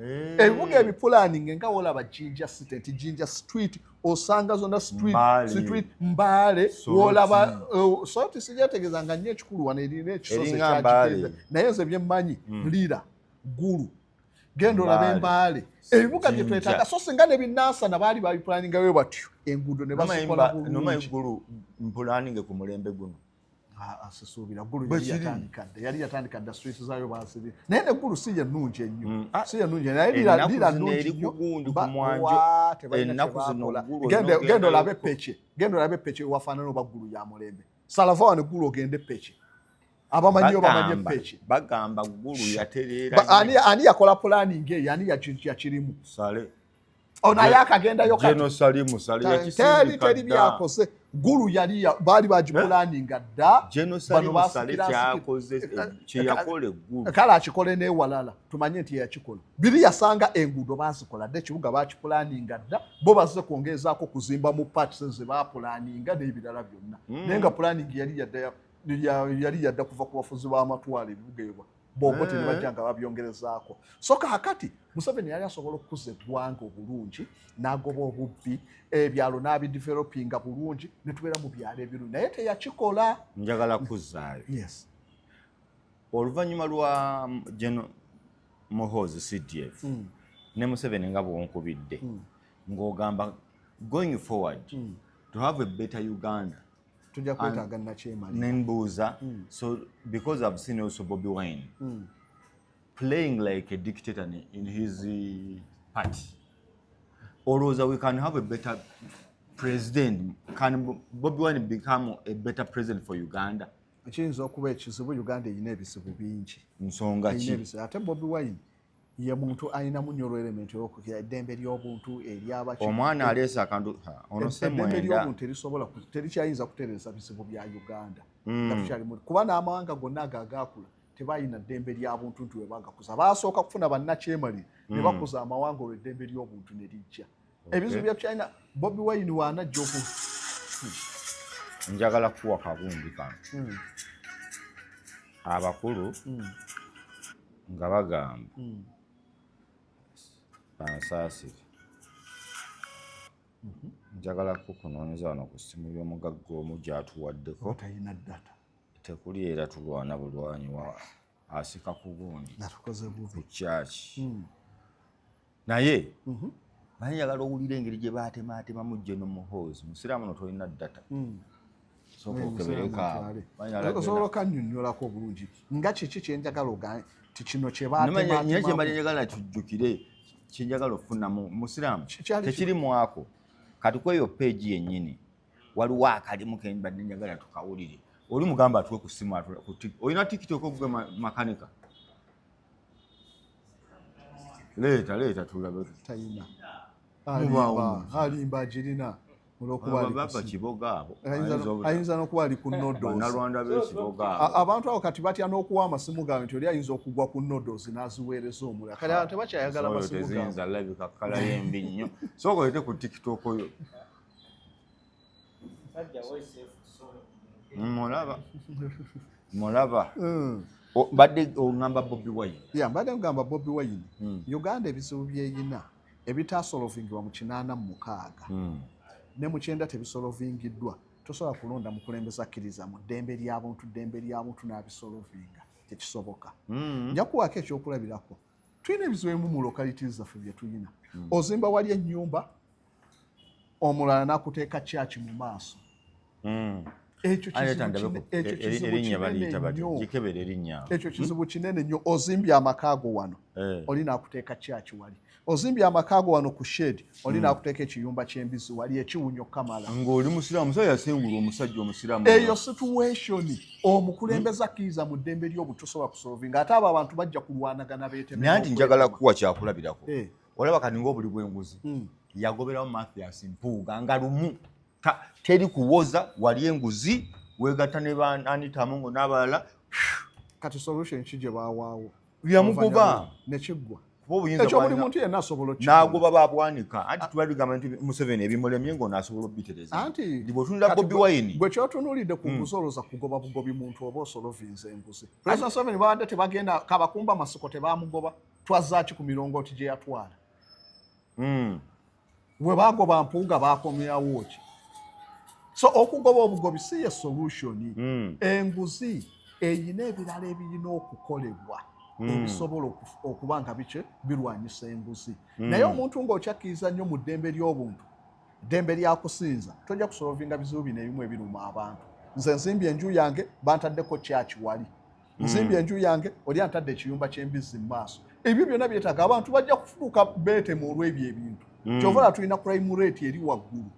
Eh. ebibuga hey. ebipulaninga nga wolaba jinja state nti jinja street osanga zonna street mbaale wolaba eh, soti sijategeza nga nyo ekikulu wano erina ekisozi kyakiteza naye nze byemmanyi hmm. lira gulu genda olaba embaale ebibuga byetwetaga so singa nebinansana baali babipulaningawe batyo enguudo nebasikola bulungi mpulaninge ku mulembe guno asisuubira ah, ah, gulu yali yatandika dda yali yatandika dda street zaayo baasiri naye ne gulu si yennungi ennyo mm, ah, si yennungi naye lira nnungi nnyogendagenda olabe pece genda olabe pece wafaanana oba gulu ya mulembe salava wano gulu ogende pece abamanyiyo bamanye pece bagamba gulu yatereera ani yakola pulaningi eyo ani yakirimu ono oh, ayakagenda yokateri byakoze gulu yali baali bagipulaninga dda kale akikole newalala tumanye nti yeyakikola biri yasanga enguudo bazikola dda ekibuga bakipulaninga dda bo bazze kwongeezaako kuzimba mu pats ze bapulaninga n'ebirala byonna hmm. naye nga pulaningi yali yadda kuva ku bafuzi b'amatwalo ebibuga ebwa boboti ne bajja nga babyongerezaako so kakati museveni yali asobola okukuza eggwanga obulungi n'agoba obubbi ebyalo n'abidevelopinga bulungi ne tubeera mu byalo ebirungi naye teyakikola njagala kuzaayo yes oluvannyuma lwa gen mohozi cdf mm. ne museveni nga bwonkubidde mm. ng'ogamba going forward mm. to have a better uganda tujja kwetaaga nakyemali nembuuza hmm. so because i've seen also bobi wine mm. playing like a dictator in his uh, party olowooza we can have a better president can bobi wine become a better president for uganda kiyinza okuba ekizibu uganda erina ebizibu bingi nsonga ki ate bobi wine ye muntu alinamu nyo olwelementi olwokukira eddembe lyobuntu eryabaki omwana aleese akantu onosemwenda lyobuntu erisobola terikyayinza kutereza bizibu bya uganda mm. natukyalimu kuba n'amawanga gonna ago agakula tebalina ddembe lya buntu nti webagakuza basooka kufuna bannakyemali mm. ne bakuza amawanga olwo eddembe lyobuntu ne lijja ebizibu bya china bobi wine waana jjoku njagala kuwa kagundi kano hmm. abakulu hmm. nga bagamba hmm. bansaasire mhm. njagala kukunoonyeza wano ku ssimu y'omugagga omu gyatuwaddeko tekuli era tulwana bulwanyi wa asika ku gundi ku kyaki naye mhm. naye njagala owulira engeri gye baatemaatemamu geno muhoozi musiraamu no tolina data mm. osobola okanyonyolako obulungi nga kiki kyenjagala ogane ti kino kyebatemanyekyemali njagala kijjukire kyenjagala okufunamu musiraamu tekiri mwako kati kweyo peegi yennyini waliwo akalimu kembadde njagala tukawulire oli mugamba atuwe ku simu olina tiktok ogwe makanika leeta leeta tulabe tayina alimba agirina ayinza nokuba ali ku nodoabantu abo kati batya n'okuwa amasimu gaabwe nti oli ayinza okugwa ku nodos n'aziweereza omulala kati abantu tebakyayagala masimu gaabwe mulaba mulaba hmm. mbadde ogamba bobi wine ya mbadde ogamba bobi wine hmm. uganda ebizibu byeyina ebitasolovingibwa mu kinaana mu mukaaga hmm. ne mu kyenda tebisolovingiddwa tosobola kulonda mukulembeza akkiriza mu ddembe lyabuntu ddembe lyabuntu n'abisolovinga tekisoboka mm. njakuwaako ekyokulabirako tulina ebizibu ebimu mu localities zaffe byetulina mm. ozimba wali ennyumba omulala nakuteeka kyaki mu maaso hmm. ekyo kizibu kinene nnyo hmm? ozimbye amaka go wano eh. oli nakuteeka kyaki wali ozimbye amaka go wano ku shed oli hmm. nakuteeka ekiyumba kyembizi wali ekiwunyo kamala ngaoli musiramu musajja yasengula omusajja omusiramu eyo situation omukulembeza akkiriza mu ddembe lyobutusobola kusolvinga ate abo abantu bajja kulwanagana betemenaye nti njagala kuwa kyakulabirako eh. olaba kati ngaobuli bwenguzi hmm. yagoberawo mathias mpuuga nga lumu teri kuwoza wali enguzi wegatta ne bananitamungo n'abalala kati solution ki gye bawaawo yamugoba nekiggwa nagoba babwanika anti ah. tubaligamba nti museveni ebimulemye nga onasobola obiterezaebwetunira bobi wine gwe kyotunulidde ku nguzi hmm. oloza kugoba bugobi muntu oba osolovinza enguzi president museveni babadde tebagenda kabakumba masiko tebamugoba twazzaaki ku mirongooti gye yatwala hmm. we baagoba mpuuga baakomyawo ki so okugoba obugobi si ye solution hmm. enguzi eyina ebirala ebirina okukolebwa hmm. ebisobola okuba nga biki birwanyisa enguzi naye omuntu ng'okyakkiriza nnyo mu ddembe ly'obuntu ddembe lya kusinza tojja kusolovinga bizibu bino ebimu ebiruma abantu nze nzimbye enju yange bantaddeko kyaki wali mm. nzimbye mm. enju yange oli antadde ekiyumba ky'embizzi mu maaso ebyo byonna byetaaga abantu bajja kufuuka beetemu olw'ebyo ebintu mm. kyova la tulina crime rate eri waggulu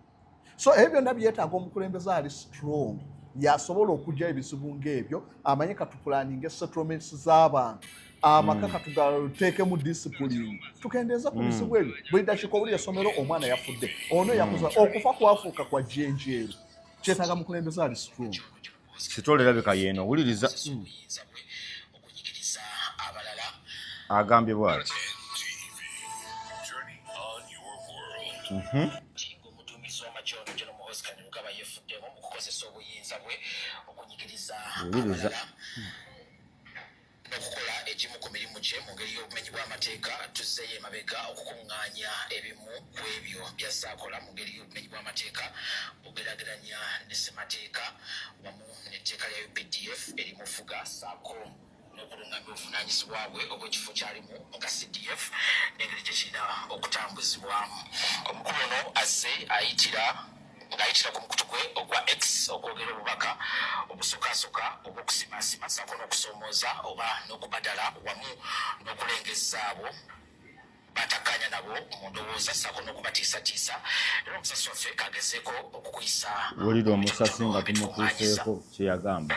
so ebyo byonna byetaaga omukulembeze ali strong yasobola okugya ebizibu ng'ebyo amanye katupulaninga esettlements z'abantu amaka mm. katugateekemu disipulini tukendeeza ku mm. bizibu ebyo buli dakiika obuli esomero omwana yafudde ono yakuza mm. okufa kwafuuka kwa jenjeero kyetaaga mukulembeze ali strong sitole erabika yeeno owuliriza agambye bwati mhm. owuliriza n'okukola egimu ku mirimu gye mu ngeri y'obumenyi bw'amateeka tuzzeeyo emabega okukuŋŋaanya ebimu ku ebyo by'azze akola mu ngeri y'obumenyi bw'amateeka bw'ogeraageranya ne ssemateeka wamu n'etteeka lya updf erimufuga saako n'okulungamya obuvunaanyizibwa bwe obw'ekifo kyalimu nga cdf n'engeri gye kirina okutambuzibwamu omukulu ono azze ayitira ng'ayitira ku mukutu gwe ogwa x okwogera obubaka obusukasuka obw'okusimaasima saako n'okusoomooza oba n'okubadala wamu n'okulengezza abo batakkaanya nabo mu ndowooza saako n'okubatiisatiisa era omusasi waffe kagezeeko okukuyisa wulira omusasi nga tumutuuseeko kye yagamba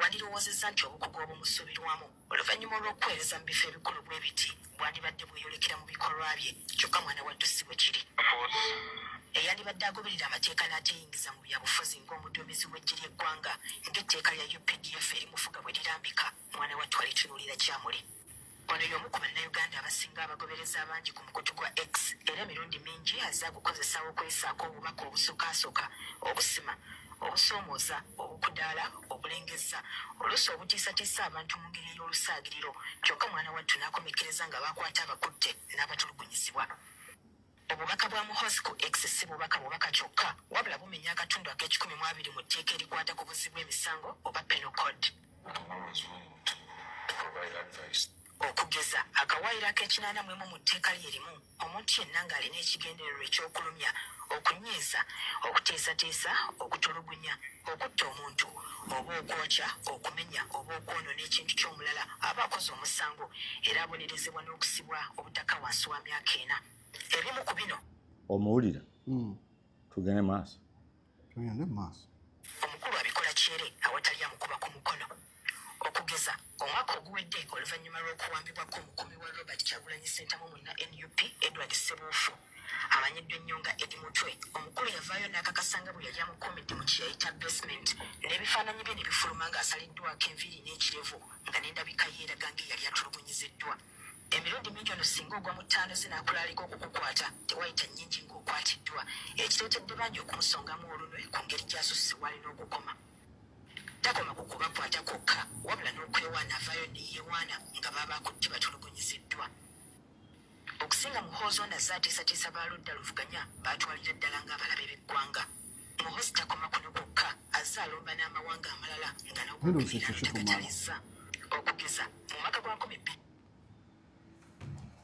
wandirowoozezza nti obukugu obumusubirwamu oluvannyuma olw'okuweereza mu bifo ebikulu bwe biti bwandibadde bweyolekera mu bikolwa bye kyokka mwana wattu si bwe kiri eyandibadde agoberera amateeka n'ateyingiza mu byabufuzi ng'omuduumizi w'eggye ly'eggwanga ng'etteeka lya updf erimufuga bwe lirambika mwana wattu alitunuulira kyamuli Ono y'omu ku Bannayuganda abasinga abagoberezi abangi ku mukutu gwa X era emirundi mingi azze agukozesa okwesaako obubaka obusokasoka, obusima, obusoomooza, obukudaala, obulengezza, oluusi obutiisatiisa abantu mu ngeri ey'olusaagiriro kyokka mwana wattu n'akomekkereza nga baakwata abakutte n'abatulugunyizibwa. Obubaka bwa Muhoozi ku X si bubaka bubaka kyokka wabula bumenya akatundu ak'ekikumi mu abiri mu tteeka erikwata ku buzzi bw'emisango oba Penal Code. Okugeza, akawaayiro ak'ekinaana mu emu mu tteeka lye limu, omuntu yenna ng'alina ekigendererwa eky'okulumya, okunyiiza, okuteesateesa, okutulugunya, Okutta omuntu oba okwokya, okumenya oba okwonona ekintu ky'omulala aba akoze omusango era abonerezebwa n'okusibwa obutaka wansi wa myaka ena. Ebimu ku bino. Omuwulira? Hmm. Tugende maaso. Tugende maaso. Omukulu abikola kyere awatali amukuba ku mukono. Okugeza, omwaka oguwedde oluvannyuma lw'okuwambibwako omukuumi wa Robert Kyagulanyi Ssentamu munna nup Edward Ssebuufu amanyiddwa ennyo nga Eddie Mutwe, omukulu yavaayo n'akakasa nga bwe yali amukuumidde mu kye yayita basement n'ebifaananyi bye ne bifuluma ng'asaliddwako enviiri n'ekirevu nga n'endabika ye eraga ng'eyali atulugunyiziddwa. Emirundi mingi ono singa ogwa mu ttaano ze n'akulaalika okukukwata tewayita nnyingi ng'okwatiddwa, ekireetedde bangi okumusongamu olunwe ku ngeri gy'asusse w'alina okukoma. takoma ku kubakwata kwokka wabula n'okwewaana avaayo ne yeewaana nga baba akutte batulugunyiziddwa okusinga muhoozi ono azze ateesatiisa ba ludda luvuganya baatwalira ddala ng'abalabe b'eggwanga muhoozi takoma kuno kwokka azze alomba n'amawanga amalala nga n'okubiira takatalizza okugeza mu maka gwa nkumi bbiri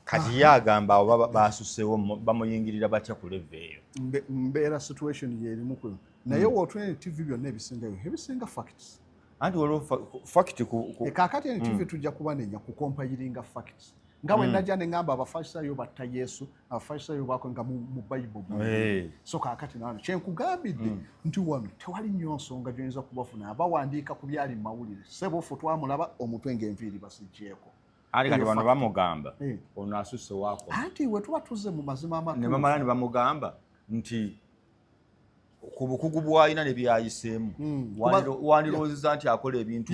kati ye agamba abo basusewo bamuyingirira batya ku leve eyo mbeera situation yerimu kwe naye hmm. wotuna tv byonna ebisingayo ebisinga facts anti waliwo fact eh, kakati ene tv hmm. tujja kubanenya ku compayiringa facts nga bwe hmm. najja ne ngamba abafarisayo batta yesu abafarisayo bako nga mu bayibuli eh. so kakati nano kyenkugambidde hmm. nti wano tewali nnyo nsonga gyoyinza kubafuna abawandiika ku byali mu mawulire sebo ffe twamulaba omutwe ng'enviiri basigyeko ali kati bano bamugamba eh. ono asusse wako anti wetuba tuze mu mazima amakulu ne bamala ne bamugamba nti ku bukugu bwalina ne byayiseemu hmm. wandiroozeza nti akola ebintu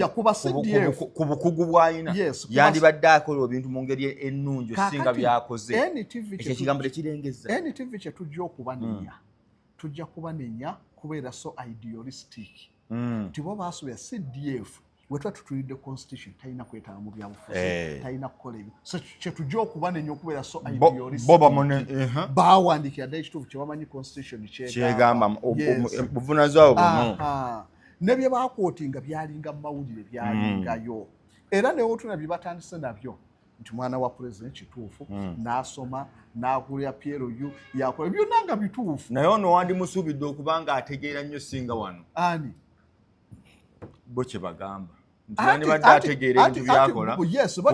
ku bukugu bwalina yandibadde akola ebintu mu ngeri ennungi osinga byakoze ekyo ekigambo tekirengeza ntv kye tujja okubanenya hmm. tujja kubanenya kubeera so idealistic hmm. nti bo baasuubira cdf wetuba tutulidde constitution talina kwetaba mu byabufuzi eh. talina kukola ebyo kyetujja okuba nenyo okubeera so bawandikira dda ekituufu kyebamanyi constitution kyegamba buvunazibwa buno ne bye bakwotinga byalinga mu mawulire byalingayo mm. era newotuna bye batandise nabyo nti mwana wa president kituufu mm. nasoma nakulira PLU yakola byonna nga bituufu naye ono wandimusuubidde okuba nga ategeera nnyo singa wano ani bo kyebagamba ntiandibadde ategeera ebintu byakola ku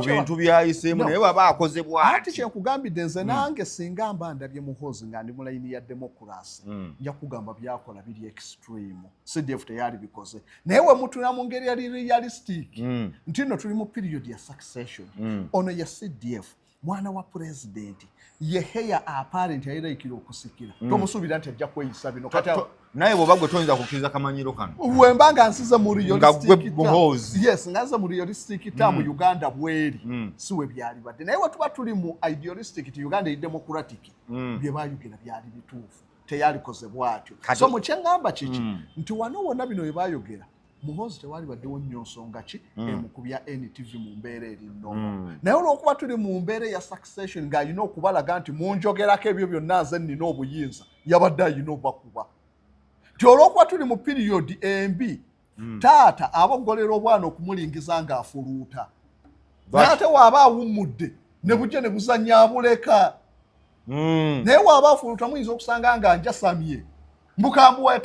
bintu byayiseemu naye waba akoze bwati kyekugambidde nze hmm. nange singa mba ndabye muhoozi nga ndi mulayini ya demokurasi hmm. nja kugamba byakola biri extreme cdf teyali bikoze naye wemutuna mu ngeri yali realistic hmm. nti no tuli mu period ya succession ono ya cdf mwana wa pulezidenti ye heya aparenti ayeraikira okusikira mm. tomusuubira nti ajja kweyisa bino kati naye bwoba gwe toyinza kukkiriza kamanyiro kano wemba nga nsize mu yes nga nze mu realistic tamu mm. uganda bweri mm. si we byali badde naye wetuba tuli mu idealistic ti uganda eri democratic mm. bye bayogera byali bituufu teyalikoze bwatyo so mukyeŋŋamba kiki mm. nti wano wonna bino bye bayogera muhoozi tewali baddewo nnyo nsonga ki mm. emu ku bya ntv mu mbeera erinno mm. naye olwokuba tuli mu mbeera eya succession ng'alina okubalaga nti munjogerako ebyo byonna nze nnina obuyinza yabadde alina obakuba nti olwokuba tuli mu piriyodi embi mm. taata aboggolera obwana okumulingiza ng'afuluuta naye ate waaba awummudde ne bujja ne buzannya abuleka naye waaba afuluuta muyinza okusanga nga njasamye mbukambuwaya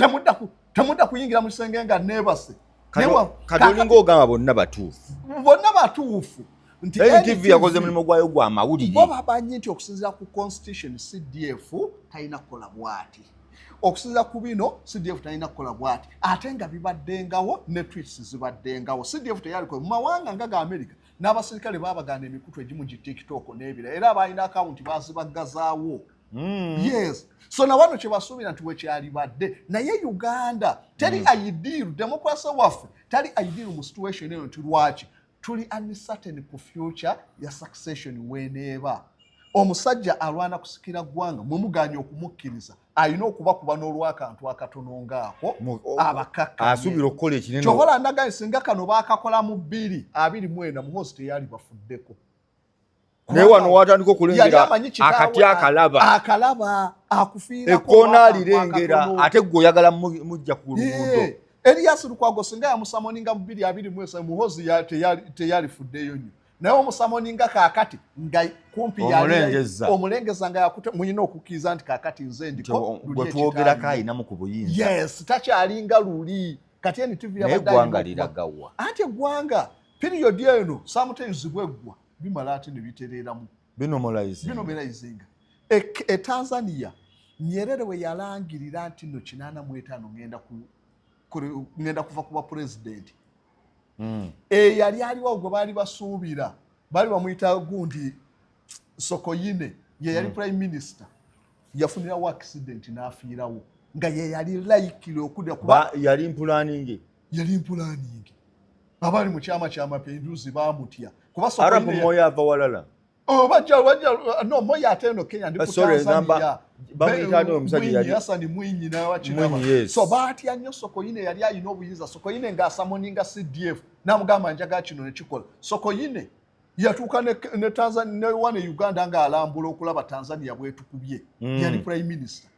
temudda kuyingira mu kisenge nga neebase kati olinga ogamba bonna batuufu bonna batuufu ntitv yakoze mulimu gwayo gwa mawulire bo babanyi nti okusinzira ku constitution cdf talina kukola bwati okusinzira ku bino cdf talina kukola bwati ate nga bibaddengawo ne twits zibaddengawo cdf teyalikoe mu mawanga nga ga america n'abaserikale baabagana emikutu egimu gi tiktok n'ebira era abaalina akawunti baazibaggazawo mm. yes so na wano kyebasuubira nti wekyalibadde naye uganda teri mm. aidiiru demokrasi waffe tali aidiiru mu situation eyo nti lwaki tuli uncertain ku future ya succession weneeba omusajja alwana kusikira ggwanga mwe muganye okumukkiriza alina okubakuba n'olwakantu akatono ngaako abakakasuubira okukola ekinene kyobola ndagaye singa kano baakakola mu bbiri abiri mwena muhozi teyali bafuddeko naye wano watandika okulengera akati akalaba akalaba akufiira ekkoona alirengera ate gwe oyagala mujja ku luguudo Elias Lukwago singa yamusamoninga mu bbiri abiri mwesa muhozi teyalifuddeyo nyo naye omusamoninga kakati nga kumpi omulengeza nga yakute muyina okukkiriza nti kakati nze ndiko gwetwogerako ayinamu ku buyinza yes takyalinga luli kati eni tv yabadde anti eggwanga piriyodi eno sometimes bweggwa bimala ate ne bitereeramu binomerayizinga e tanzania nyerere we yalangirira nti no kinaana mu etaano ŋŋenda kuva ku bapulezidenti hmm. eyali eh, aliwo gwe baali basuubira baali bamuyita gundi sokoyine ye yali hmm. prime minister yafunirawo accident n'afiirawo nga ye yali laikire okudda kuba yali mpulaninge yali mpulaniingi abaali mu kyama kya mapenduzi bamutya kubaarabu moyo ava walala oh, no moyo ate eno kenya ndi kutanzania Hassan Mwinyi n'abakinaba so baatya nnyo Sokoine yali alina obuyinza Sokoine ng'asamoninga CDF n'amugamba njaga kino ne kikola Sokoine yatuuka ne, ne, Tanzania, ne wane Uganda ng'alambula okulaba Tanzania bwetukubye mm. yali prime minister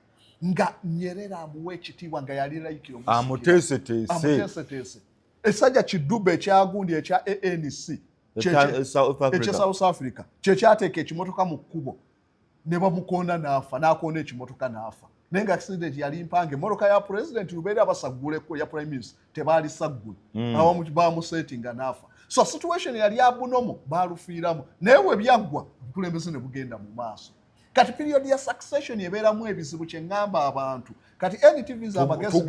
nga nyerera amuwa ekitiibwa nga yali layikiro amuteeseteese esajja kiduba ekyagundi ekya anc ekya south africa kyekyateeka ekimotoka mu kkubo ne bamukonda n'afa n'akonda ekimotoka n'afa naye nga accident yali mpange emotoka ya president lubeera basagguleko ya prime minister tebaali saggule hmm. awamu bamusetinga n'afa so situation yali abunomu baalufiiramu naye we byaggwa obukulembeze ne bugenda mu maaso kati period ya succession ebeeramu ebizibu kye ŋŋamba abantu kati ntv za amagezi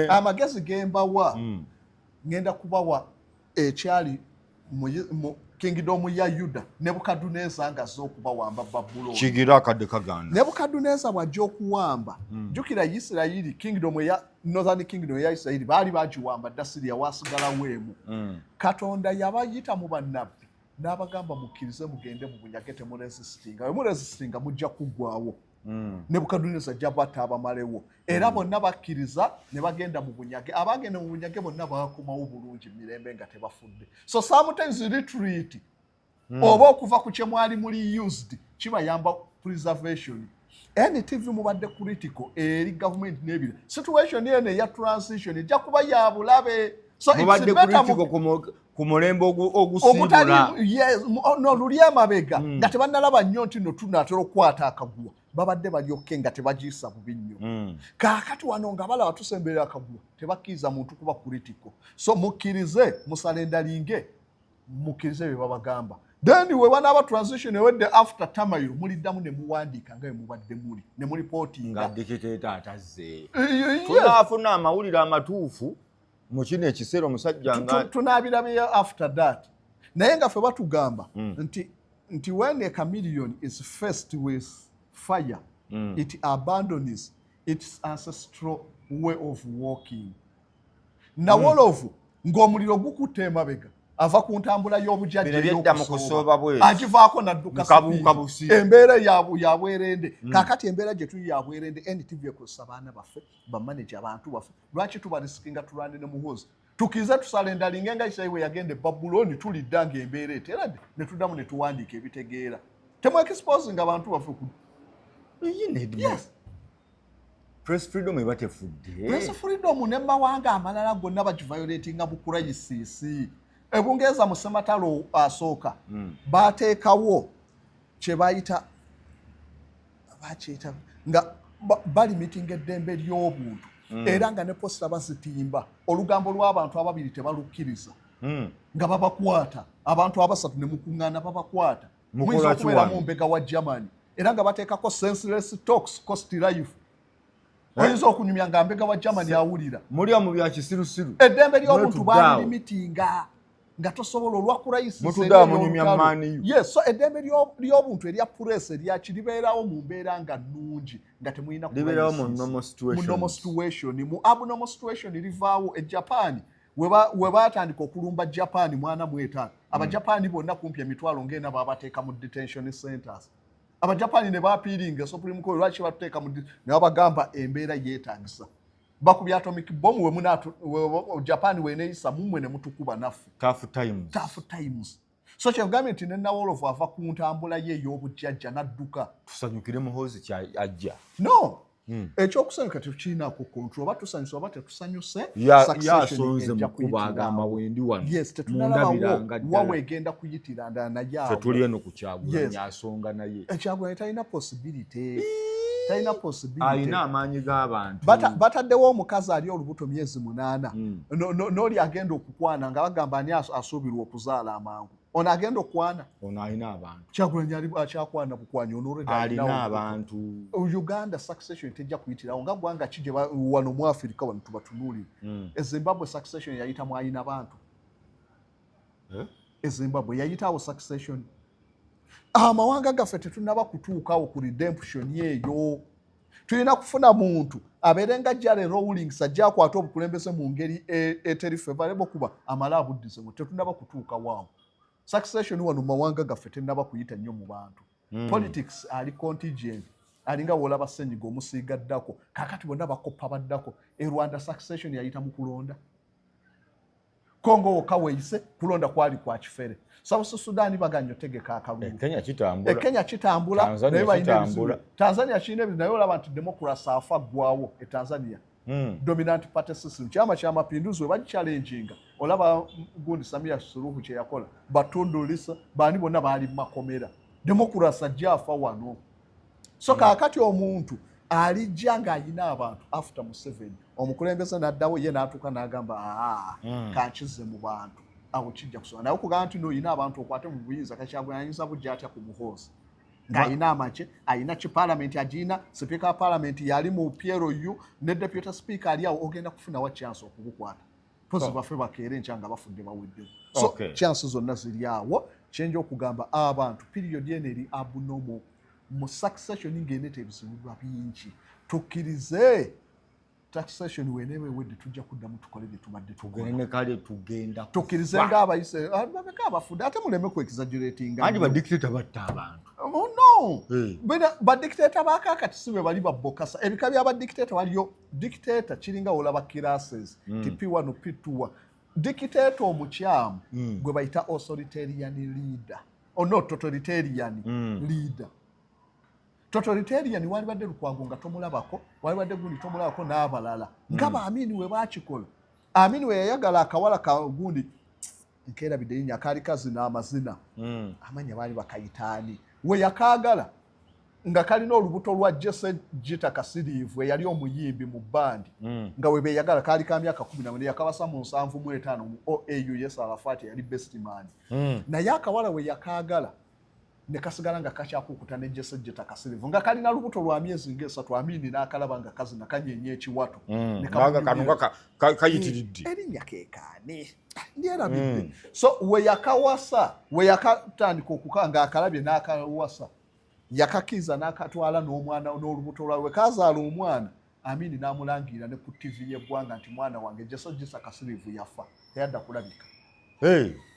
amagezi gembawa mm. ŋenda kubawa ekyali kingidomu ya yuda nebukaduneza nga azze okubawamba babulooni kigira akadde kaganda nebukaduneza bw'ajja okuwamba mm. jukira isirayiri kingidomu ya northern kingdom eya isirayiri baali bagiwamba dda siriya waasigalawo emu mm. katonda yabayita mu bannabbi n'abagamba mukkirize mugende mu bunyage temurezisitinga bwe murezisitinga mujja kuggwawo hmm. nebukaduneza ajja bata abamalewo era hmm. bonna bakkiriza ne bagenda mu bunyage abaagenda mu bunyage bonna bakomawo bulungi mirembe nga tebafudde so sometimes retreat hmm. oba okuva ku kye mwali muli used kibayamba preservation NTV mubadde critical eri gavumenti n'ebira situation eno eya transition ejja kuba ya bulabe so mubadde critical ku mulembe ogusiibula oh, no luli amabega mm. nga tebannalaba nnyo nti no tunaatera okukwata akaguwa babadde balyokke nga tebagiyisa bubi nnyo mm. kaakati wano nga balaba tusemberera akaguwa tebakkiriza muntu kuba kuritiko so mukkirize musala endalinge mukkirize bye babagamba then we banaaba transition ewedde after tamayo muliddamu ne muwandiika nga bemubadde muli ne mulipotinga dikiteeta atazze eh, eh, eh. tunaafuna amawulire amatuufu mu kino ekiseera omusajja nga tunaabirabeyo after that naye nga fe batugamba mm. nti nti when a chameleon is faced with fire mm. it abandons its ancestral way of walking nawolovu mm. ng'omuliro gukutte emabega ava ku ntambula y'obujajjagivaako naddukaembeera yabwerende mm. kakati embeera gye tuli yabwerende ntvekusa baana baffe bamaneja abantu baffe lwaki tuba risikinga tulwane ne muhoozi tukize tusala endalinga nga isayi we yagenda ebabuloni tulidda nga embeera eterade ne tuddamu ne tuwandiika ebitegeera temwekisipozinga abantu baffe ku yes press freedom eba tefudde press freedom ne mawanga amalala gonna bagiviolatinga bukurayisisi ebungereza mu sematalo asooka hmm. baateekawo kyebayita bakyeta nga balimitinga eddembe ly'obuntu mm. era nga ne posita bazitimba olugambo lw'abantu ababiri tebalukkiriza mm. nga babakwata abantu abasatu ne mukuŋŋaana babakwata muyinza okubeera mu mbega wa germany era nga bateekako senseless tox cost life eh? oyinza okunyumya nga mbega wa germany awulira muliwa mu byakisirusiru eddembe ly'obuntu balilimitinga nga tosobola olwa kurayisiyeso eddembe ly'obuntu erya puresi eryaki libeerawo mu mbeera nga nnungi nga temulinamunomo situation mu abnomo situation livaawo e japan webatandika okulumba japan mwana mwetaano hmm. abajapani bonna kumpi emitwalo ngaena babateeka mu detention centers abajapani ne bapiiringa esopulimuko lwaki batuteeka mu ne babagamba embeera yeetagisa bakubya atomic bomb we muna Japan we neisa mumwe ne mutukuba nafu tough times tough times so kye gambye nti nenawolovu ava ku ntambula ye ey'obujjajja n'adduka tusanyukire muhoozi kya ajja no hmm. ekyokusanyuka tekirina ku kontrol oba tusanyuse oba tetusanyuse yasonze mukuba agamba wendi wano yes tetunalabawo wawe egenda kuyitira ndala naye awo kyagulanyi asonga naye eh, kyagulanyi talina possibility talina possibility alina amaanyi g'abantu bataddewo omukazi ali olubuto myezi munaana hmm. n'oli agenda okukwana nga bagamba ani asuubirwa okuzaala amangu ono agenda okukwana ono alina abantu kyagulanyi akyakwana bukwanya onoalina abantu uganda succession tejja kuyitirawo nga gwanga kije wano mu afirika wano tubatunuulire hmm. ezimbabwe succession yayitamu alina bantu eh? e zimbabwe yayitawo succession amawanga gaffe tetunaba kutuukawo ku redemption eyo tulina kufuna muntu abeere nga jare rowlings ajja akwata obukulembeze mu ngeri e, eteri fevarebo kuba amala abuddizemu tetunaba kutuuka waawo succession wano mumawanga gaffe tenaba kuyita nnyo mu bantu hmm. politics ali contigent alinga wolaba senyiga omusiiga ddako kakati bonna bakoppa baddako e rwanda succession yayita mu kulonda Kongo wokka weeyise kulonda kwali kwa kifere. South Sudan baganya otegeka akalulu. E eh, Kenya kitambula. E Kenya kitambula. Tanzania kitambula. Tanzania kirina ebizibu naye olaba nti democracy afa ggwawo e Tanzania. Mm. Dominant party system. Kyama kya mapinduzi we bagichallenginga. Olaba gundi Samia Suluhu kye yakola. Batundu Lisa bani bonna baali makomera. Democracy ajja afa wano. so mm. kakati omuntu alijja ng'alina abantu after museveni omukulembeze n'addawo ye n'atuuka n'agamba aa mm. kankize mu bantu awo kijja kusobola naye okugamba nti noolina abantu okwate mu buyinza kakyagweyayinza bujja atya ku muhoozi ng'alina amagye alina ki palamenti agirina sipiika wa palamenti yali mu plu ne deputy sipiika ali awo ogenda kufuna wa chance okubukwata mpozi oh. bafe bakeere nkya nga bafudde baweddewo so okay. chance zonna ziri awo kyenja okugamba abantu period eno eri abnormal mu succession ng'eneeta ebizibuwa bingi tukkirize taxation weneeba ewedde tujja kuddamu tukole bye tubadde tugenekale tugenda tukkirize ng'abayise ah, bameka abafudde ate muleme ku exaggeratinga andi badictator batta abantu oh, no badictator bakakati si be bali babbokasa ebika bya badictator waliyo dictator kiringa olaba classes mm. tipi wano pituwa dictator omukyamu mm. gwe bayita authoritarian leader or oh, not totalitarian mm. leader totalitarian walibadde lukwago nga tomulabako walibadde gundi tomulabako n'abalala mm. nga baamini we bakikola amini we yayagala akawala ka gundi nkerabidde linya kaali kazina amazina mm. amanya baali bakayitaani we yakaagala nga kalina olubuto lwa jese jita kasiriivu eyali omuyimbi mu bandi mm. nga we beyagala kaali ka myaka kumi namwe neyakabasa mu nsanvu mu etaano mu oau yes arafat eyali bestman mm. naye akawala we yakaagala ne kasigala nga kakyakukuta ne jesejjeta kasirivu nga kalina lubuto lwa myezi ng'esatu amiini n'akalaba nga kazina kanyenya ekiwato mm. kayitiridde eh, erinnya kekaani lyerabidde mm. so weyakawasa weyakatandika okuka nga akalabye n'akawasa yakakiza n'akatwala n'omwana n'olubuto lwawe kazaala omwana Amin n'amulangira ne ku ttivi y'eggwanga nti mwana wange Jasa Jisa Kasirivu yafa teyadda kulabika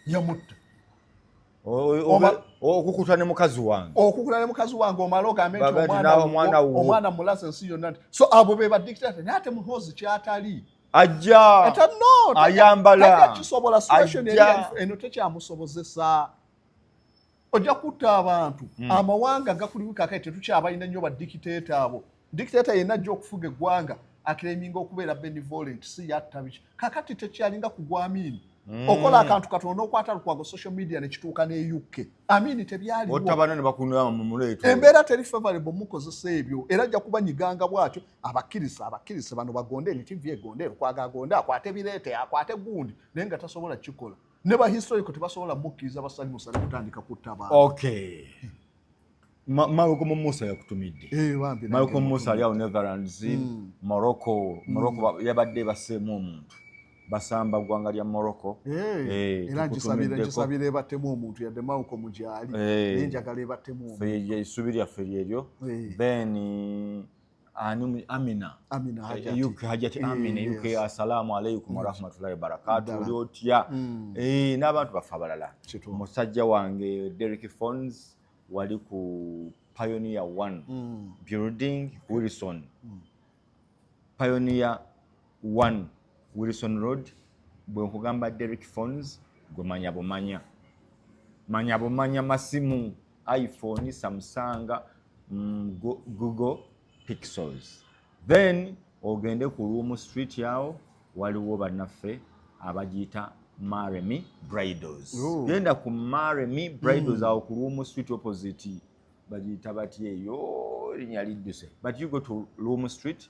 yamutta okukuta ne mukazi wange okukuta ne mukazi wange omala ogambe nti omwana mulaze ensi yonna nti so abo be badikitata naye ate muhoozi kyatali ajja ayambala kisobola eno tekyamusobozesa ojja kutta abantu hmm. amawanga gakulimu kakati tetukyabalina nnyo badikiteeta abo dikiteeta yenna ajja okufuga eggwanga akireminga okubeera benevolent si yatta biki kakati tekyalinga kugwa amiini hmm. okola akantu katono n'okwata lukwago social media nekituuka ne uk amiini tebyaliwoembeera teri favorable mukozesa ebyo era ajja kuba nyiganga bwatyo abakkiriza abakkiriza bano bagonde emitivi egonde lukwago agonde akwate bireete akwate gundi naye nga tasobola kukikola ne ba historical tebasobola mukkiriza basanyusa ne kutandika kutta abantu okay Malcolm Musa yakutumidde eh, Malcolm Musa ali awo Netherlands mm. Morocco Morocco mm. yabadde baseemu omuntu basamba ggwanga lya Morocco eh, eh, era nkisabira ebattemu omuntu yadde Malcolm gyali naye njagala ebattemu omuntu essuubi lyaffe lyeryo then Anum, amina amina hajati hajati eh, amina yuko yes. assalamu alaikum warahmatullahi wabarakatuh oli otya mm. eh n'abantu bafa balala musajja wange Derek Phones wali ku Pioneer 1 mm. building Wilson mm. Pioneer 1 wilson road bwe nkugamba derek phones gwe manya bumanya manya bumanya masimu iphone samusanga mm, google pixels then ogende ku luumu street yawo waliwo bannaffe abagiyita maremy bridals genda ku maremy bridals mm. awo ku luumu street opposite bagiyita batya eyo linya lidduse but you go to luumu street